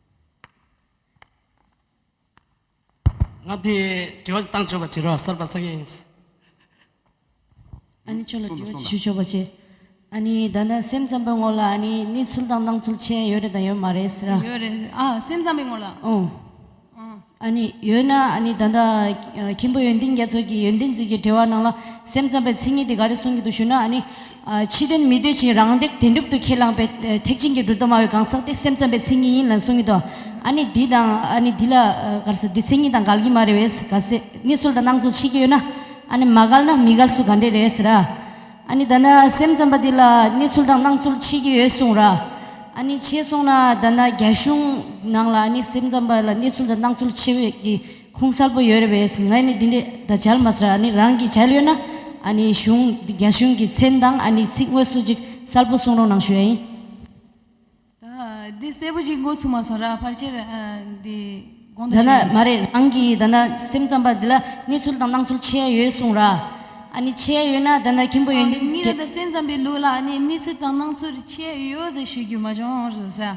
ང་འདིའི་དྲི་བ་བཏང་ཆོག་པ་བྱེད་རོགས་གསར་པ་ས་ཁྱི། ཨ་ནི་ཁྱོད་ལ་དྲི་བ་ཅིག་ཞུ་ཆོག་པ་བྱེད། ཨ་ནི་ད་ལྟ་སེམས་ཙམ་པའི་ངོར་ལ་ཨ་ནི་གནས་ཚུལ་དང་སྣང་ཚུལ་ཆེན་ཡོད་རེད་དང་ཡོད་མ་རེད་ཟེར་ར། ཡོད་རེད། ཨ་སེམས་ཙམ་པའི་ངོར་ལ། ཨོང། ཨ་ནི་ཡོད་ན་ཨ་ནི་ད་ལྟ་ཁྱིམ་བུ་ཡོན་ཏིང་རྒྱ་མཚོ་གིས་ཡོན་ཏིང་ཟེར་གྱི་དྲི་བ་ནང་ལ་སེམས་ཙམ་པའི་མཚན་ཉིད་དེ་ག་རེ་གསུང་གི་འདུག་ཞུ་ན་ཨ་ནི། ཕྱི་དོན་མི་འདོད་ཅིང་རང་འདོད་དེ་འགྲུབ་ཏུ་ཁས་བླངས་པས་ཐེག་ཆེན་གྱི་འབྲུ་དུ་མ་བའི་གང་ཟག་དེ་སེམས་ཙམ་པའི་མཚན་ཉིད་ཡིན་ལ་གསུང་ཉིད་དོ། ཨ་ནི་འདི་དང་ཨ་ནི་འདི་ལ་དགར་ས་འདི་མཚན་ཉིད་དང་དགར་གྱི་མ་རེད་བས་དགར་ས་ནི་སྲོལ་དང་སྣང་ཚུལ་ཕྱེད་ཀྱི་ཡོད་ན་ཨ་ནི་མ་དགར་ན་མི་དགར་སུ་ག་འདྲས་རེད་ཟེར། ཨ་ནི་ད་ན་སེམས་ཙམ་པ་འདི་ལ་ནི་སྲོལ་དང་སྣང་ཚུལ་ཕྱེད་ཀྱི་ཡོད་གསུངས། ཨ་ནི་ཕྱེད་གསུངས་ན་ད་ན་རྒྱ་གཞུང་ནང་ལ་ཨ་ནི་སེམས་ཙམ་པ་ལ་ནི་སྲོལ་དང་སྣང་ཚུལ་ཕྱེད་ཀྱི་ཁུངས་གསལ་པོ་ཡོད་རེད་བས་ང་ནི་འདི་འདྲས་ད་བྱར་མ་ཟེར་ཨ་ནི་རང་གིས་བྱས་ཡོད་ན་ཨ་ནི་གཞུང་རྒྱ་གཞུང་གི་མཚན་དང་ཨ་ནི་ཚིག་དངོས་སུ་ཅིག་གསལ་པོ་གསུང་རོགས་གནང་ཞུ་ཡ་ཡིན། འདི་གསལ་པོ་ཞིག་མགོ་ཚུགས་མ་སོང་ར་ཕར་ཆེར་འདི་དགོངས་དག་ད་ན་ཞུ་ཡ་མ་ཡིན། རེད་རང་གིས་ད་ན་སེམས་ཙམ་པ་འདི་ལ་གནས་ཚུལ་དང་སྣང་ཚུལ་ཆེ་ཡོད་གསུང་ར་ཨ་ནི་ཆེ་ཡོད་ན་ད་ན་མཁན་པོ་ཡོན་ཏན་གཉིས་ར་རྒྱལ། ད་སེམས་ཙམ་པའི་ལུགས་ལ་ཨ་ནི་གནས་ཚུལ་དང་སྣང་ཚུལ་ཆེ་ཡོད་ཟེར་ཞུ་རྒྱུ་མ་བྱུང་ཟེར།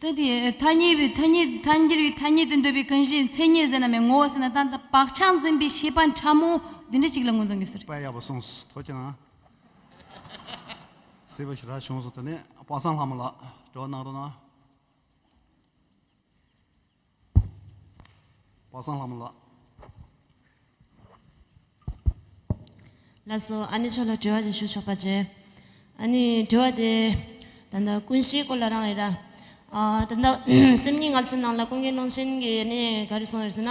དེ་དེའི་ཐ་སྙད་པའི་ཐ་སྙད་དེ་ཐལ་འགྱུར་བའི་ཐ་སྙད་དུ་འདོད་པའི་ཀུན་གཞིའི་མཚན་ཉིད་ཟེར་ན་མེད་ངོ་བོ་ཟེར་ན་དང་དང་བག་ཆགས་འཛིན་པའི་ཤེས་པ་ཕྲ་མོ་འདི་འདྲ་གཅིག་ལ་ངོས་འཛིན་དགོས་ཟེར། དཔེ་ཡག་པོ་གསུངས་སོ་ཐོག་ཅི་ན། སྲིད་པ་ཞི་དྲག་བྱུང་སོ་དེ་ནས་དཔག་བསམ་ལྷ་མོ་ལགས་གྲོ་བ་གནང་རོགས་གནང། པ་བཟང་ལྷ་མོ་ལགས། ལགས་སོ། ཨ་ནེ་མཆོག་ལ་དྲི་བ་ཞིག་ཞུ་ཆོག་པ་རེད། ཨ་ནེ། དྲི་བ་དེ། ད་ལྟ་ཀུན་གཞིའི་སྐོར་ལ་རང་ཨེ་ར། ད་ལྟ་སེམས་ཉིད་ང་ཚོའི་ནང་ལ་ཀུན་གྱི་གནོད་སྦྱིན་གྱི་ནི་ག་རེ་སོང་ཡོད་ཟེར་ན།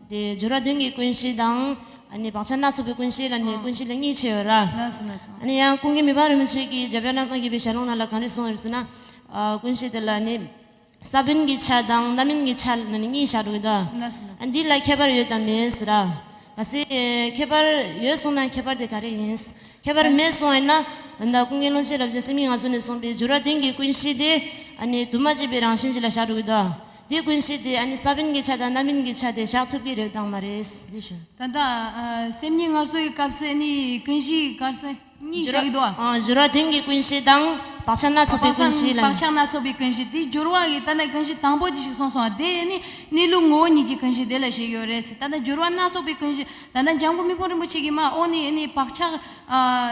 དེ་སྦྱོར་བ་བདུན་གྱི་ཀུན་གཞི་དང། ཨ་ནེ་བག་ཆགས་སྣ་ཚོགས་པའི་ཀུན་གཞི་ལ་ནི་ཀུན་གཞི་ལ་གཉིས་ཕྱེ་ཡོད་ར། ཨ་ནེ་ཡང་ཀུན་གྱི་མི་ཕམ་རིན་པོ་ཆེ་གིས་རྗེ་དཔལ་ནཱ་མ་དགེ་བའི་ཞལ་ལུང་ནང་ལ་ག་རེ་གསུངས་ཡོད་ཟེར་ན། ཀུན་གཞི་དེ་ལ་ནི། ས་བོན་གྱི་ཆ་དང་རྣམ་སྨིན་གྱི་ཆ་ནི་གཉིས་བྱ་དགོས་ད། འདི་ལ་ཁྱད་པར་ཡོད་དམ་མེད་ཟེར་ར། ག་སྲིད་ཁྱད་པར་ཡོད་གསུངས་ན་ཁྱད་པར་དེ་ག་རེ་ཡིན། ཁྱད་པར་མེད་གསུང་བ་ཡིན་ན། ད་ཀུན་མཁྱེན་ཀློང་ཆེན་རབ་འབྱམས་སེམས་ཉིད་ང་ཚོ་ནས་གསུངས་པའི་སྦྱོར་བ་བདུན་གྱི་ཀུན་གཞི་དེ། དུ་མ་གཅིག་པའི་རང་བཞིན་གྱི་ལ་བྱ་དགོས་ད། དེའི་ཀུན་གཞི་དེ་ས་བོན་གྱི་ཆ་དང་རྣམ་སྨིན་གྱི་ཆ་དེ་བཞག་ཐུབ་ཀྱི་རེད་དང་མ་རེད། ད། སེམས་ཉིད་ང་ཚོ་ཡི་སྐབས་སུ་ནི་ཀུན་གཞིའི་དཀར་སེར། སྦྱོར་བ་བདུན་གྱི་ཀུན་གཞི་དང། བག་ཆགས་སྣ་ཚོགས་པའི་ཀུན་གཞི་ལ་ནི། བག་ཆགས་སྣ་ཚོགས་པའི་ཀུན་གཞི་དེ་སྦྱོར་བ་གི་ད་ནི་ཀུན་གཞི་དང་པོ་ཅི་ཞིག་གསུངས་སོང་བ་དེ་ནི་གནས་ལུགས་ངོ་བོ་ཉིད་ཀྱི་ཀུན་གཞི་དེ་ལ་ཞེས་ཡོད་རེད་ཟེར་ད་ནི་སྦྱོར་བ་སྣ་ཚོགས་པའི་ཀུན་གཞི་ད་ནི་འཇམ་མགོན་མི་ཕུང་རིན་པོ་ཆེ་གིས་མ་འོངས་ནི་ནི་བག་ཆགས་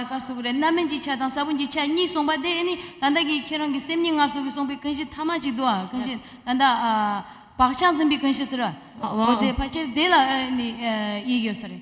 ཀྱི་གཟུགས་རེད་རྣམ་སྨིན་གྱི་ཆ་དང་ས་བོན་གྱི་ཆ་གཉིས་གསུངས་པ་དེ་ནི་ད་ལྟ་གི་ཁྱེད་རང་གི་སེམས་ཉིད་སྔར་སོང་གིས་གསུངས་པའི་ཀུན་གཞི་ཐ་མ་གཅིག་ཏུ་ཀུན་གཞི་ད་ནི་བག་ཆགས་འཛིན་པའི་ཀུན་གཞི་ཟེར་བ་དེ་ཕལ་ཆེར་དེ་ལ་ནི་དབྱེ་ཡོད་ས་རེད།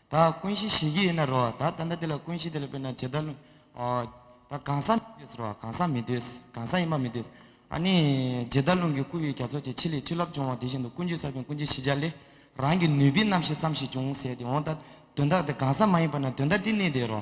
ད་ཀུན་གཞི་ཞིག་གིས་ཡིན་ན་རོ། ད་ད་ནི་དེ་ལ་ཀུན་གཞི་དེ་ལ་དཔེར་ན་ཇི་ལྟར། ད་གང་ཟག་མི་འདོད་ཟེར་བ་གང་ཟག་མི་འདོད། གང་ཟག་ཡིན་པ་མི་འདོད། ཨ་ནི། ཇི་ལྟར་རླུང་གིས་བསྐུལ་བའི་རྒྱ་མཚོ་ཆེ་ཆི་ལས་ཆུ་རླབས་འབྱུང་བ་དེ་བཞིན་དུ་ཀུན་སྤྱོད་གསར་པའི་ཀུན་གཞི་ཤེས་བྱ་ལས། རང་གི་ནུས་པའི་རྣམ་ཤེས་ཙམ་ཞིག་ཅུང་ཟད་དེ་འོང། ད་དོན་དག་དེ་གང་ཟག་མ་ཡིན་པ་ན་དོན་དག་དེ་གནས་དེའི་རོ།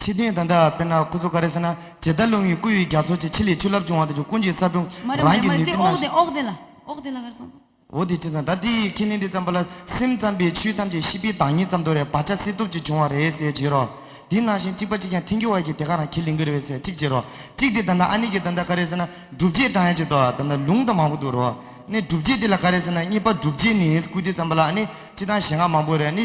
ཕྱི་རྟེན་དང་འདྲ་བར་དཔེར་ན་སྐུ་གཟུགས་ཀ་རེ་ཟེར་ན་ཇི་ལྟར་རླུང་གིས་བསྐུལ་བའི་རྒྱ་མཚོ་ཆེ་ཆེ་ལས་ཆུ་རླབས་བྱུང་བ་དང་ཆུ་ཀུན་གྱི་ས་བུན་རང་གིས་ནུས་མཐུ་སྣང་ཞིང། འོ་དེ་ཅི་ཙམ་ད་དེ་ཡི་ཁས་ལེན་འདི་ཙམ་པ་ལ་སེམས་ཙམ་པའི་ཆོས་ཐམས་ཅད་ཤི་བའི་བདག་ཉིད་ཙམ་དུ་རེ་བ་ཆ་སྲིད་སྟོབས་ཀྱིས་བྱུང་བ་རེད་ཟེར་བྱེད་རོགས། དེ་ནང་བཞིན་གཅིག་པ་གཅིག་ཀྱང་འཐེན་རྒྱུ་བར་གྱི་དེ་ག་རང་ཁས་ལེན་གི་རེ་བས་ཟེར་གཅིག་བྱེད་རོགས་གཅིག་དེ་ད་ནང་ཨ་ནེ་གི་ད་ནང་ཀ་རེ་ཟེར་ན་སྒྲུབ་བྱེད་བགྲང་ཡ་གཅིག་དོ་ད་ནང་ལུང་དང་མང་པོ་འདུག་རོགས་གནས་སྒྲུབ་བྱེད་དེ་ལ་ཀ་རེ་ཟེར་ན་གཉིས་པ་སྒྲུབ་བྱེད་ནི་སྐུ་དེ་ཙམ་པ་ལ་ཨ་ནེ་སྤྱི་དང་ཞེ་ལྔ་མང་པོ་རེ་ཨ་ནེ།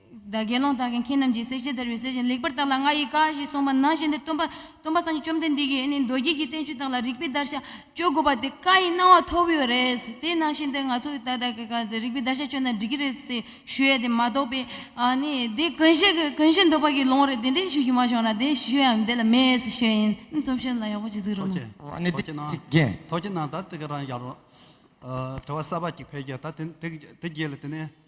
བདག་དགེ་སློང་དག་གིས་ཁྱེད་རྣམས་ཀྱིས་གསེར་ཇི་ལྟར་བའི་གསེར་བཞིན་ལེགས་པར་བརྟགས་ལ་ང་ཡི་བཀའ་བཞིན་སོང་བ་ན་གཞན་དོན་སྟོན་པ་སྟོན་པ་སངས་རྒྱས་བཅོམ་ལྡན་འདས་ཀྱིས་ནི་མདོ་རྒྱུད་ཀྱི་བསྟན་བཅོས་དག་ལ་རིགས་པའི་བརྡར་ཤ་གཅོད་དགོས་པ་དེ་བཀའ་ཡི་གནང་བ་ཐོབ་ཡོད་རེད། དེས་ན་ཤིན་ཏུ་ང་ཚོ་ད་ལྟ་གི་བར་དུ་རིགས་པའི་བརྡར་ཤ་གཅོད་ན་འགྲིག་གི་རེད་ཟེར་ཞུ་ཡ་དེ་མ་གཏོགས་པས་ནི་དེ་གོན་བཞིན་གི་གོན་བཞིན་འདུག་པ་གི་ལོང་རེད་དེ་འདྲའི་ཞུ་རྒྱུ་མ་བྱུང་ན་དེ་ཞུ་ཡ་འདི་ལ་མེད་ཟེར་ཞུ་ཡ་ཡིན་ནི་རྩོམ་གཞན་ལ་ཡག་པོ་ཅིག་གཟིགས་རོགས་གནང། ཨ་ནི་དེ་ཅིག་རྒྱན། དོ་ཅི་ནང་ད་དེ་ག་རང་ཡག་རོགས། དྲི་བ་གསར་པ་ཅིག་ཕལ་སྐད་ད་དེ་དེ་དེ་རྒྱས་ལ་དེ་ནས།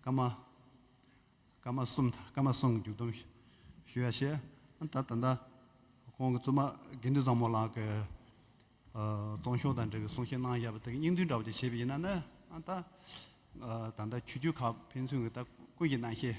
སྐར་མ། སྐར་མ་གསུམ་དང་སྐར་མ་གསུམ་གྱི་འགྱུར་རྡོ་ཞུ་ཡ་བྱས། ད་ད་ལྟ་ཁོང་གི་བཙུན་མ་དགེ་འདུན་བཟང་མོ་ལགས་ཀྱི་ཙོང་ཤོག་དང་འབྲེལ་བའི་གསུང་བཤད་གནང་བཞག་པ་དེ་སྙིང་བསྡུས་འདྲ་བོ་ཅིག་བྱས་པ་ཡིན་ན་ནི་ད་ད་ལྟ་ཆོས་རྒྱུད་ཁག་ཕན་ཚུན་གྱི་ད་ཀུན་གྱི་གནང་བཤད།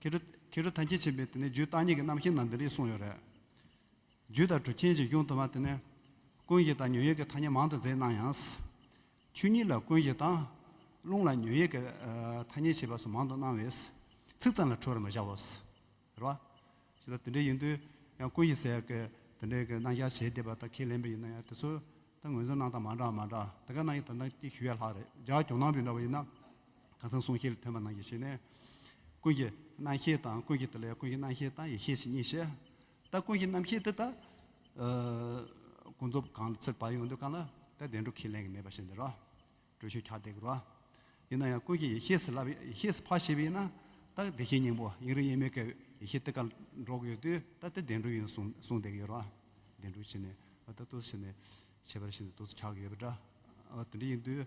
ཁྱེད་རུ་ཁྱེད་རུ་ཐ་སྐྱེད་བྱེད་པའི་དེ་ནས་རྒྱུད་བརྟག་གཉིས་ཀྱི་རྣམ་ཤེས་ནང་དེ་རིགས་གསུངས་ཡོད་རེད། རྒྱུད་དང་གྲུབ་ཆེན་གྱི་གཞུང་དུ་མ་དེ་ནས། ཀུན་གཞི་དང་ཉོན་ཡིད་ཀྱི་ཐ་སྙད་མང་དུ་མཛད་སྣང་ཡང། ཆོས་ཉིད་ལ་ཀུན་གཞི་དང། རླུང་ལ་ཉོན་ཡིད་ཀྱི་ཐ་སྙད་བྱས་པ་སོགས་མང་དུ་སྣང་བས། ཚིག་ཙམ་ལ་འཕྲོས་ར་མ་བཞག་བར། རེད་བ། ཞེས་དང་དེ་འདྲའི་ཡིན་དུས་ཡང་ཀུན་གཞི་ཟེར་ཡག་གི་དེ་འདྲའི་གི་སྣང་བཞག་བྱས་བསྡད་པ་དང་ཁས་ལེན་པ་ཡིན་ན་ཡང་དེ་ཚོ་དང་ངོས་འཛིན་གནང་སྟངས་མ་འདྲ་མ་འདྲ་དེ་ག་ནང་གི་དོན་དང་དེ་ཞུ་ཡ་ལྷག་རེད་འཇགས་གྱོང་ནང་བའི་འདྲ་བ་ཡིན་ན། ཁ་ཚང་གསུང་ཤེལ་ཐོན་པ་ན་ཡེ་ཤེས་ནི། ཀུན་གྱི་རྣམ་ཤེས་དང་ཀུན་གྱི་དེ་ལས་ཀུན་གྱི་རྣམ་ཤེས་དང་ཡེ་ཤེས་ཞེས་གཉིས་བཤད། ད་ཀུན་གྱི་རྣམ་ཤེས་དེ་དག། ཀུན་རྫོབ་གང་ལ་ཚེར་བག་ཡོང་དུས་གང་ལ་དེ་བདེན་གྲུབ་ཁས་ལེན་གྱི་མེད་པ་ཤེས་འདི་རོ། འགྲོས་ཤུགས་ཁྱག་དེ་གི་རོ། ཡིན་ན་ཡང་ཀུན་གྱི་ཡེ་ཤེས་སུ་བསླབ་ཡེ་ཤེས་སུ་འཕགས་ཤེས་པ་ཡིན་ན། ད་བདེ་གཤེགས་སྙིང་པོ་དབྱིངས་རིག་དབྱེར་མེད་ཀྱི་ཡེ་ཤེས་དེ་གར་འགྲོ་གི་ཡོད་དུས་ད་དེ་བདེན་གྲུབ་ཡིན་གསུངས་བསྡད་ཀྱི་ཡོད་རོ། བདེན་གྲུབ་ཞེས་ནི་ད་ཏུ་ཞེས་ནི། ཁྱད་པར་ཞེས་ནི་ཏུ་ཚུར་ཆགས་ཀྱི་ཡོད་པ་འདྲ། དེ་འདྲ་ཡིན་དུས།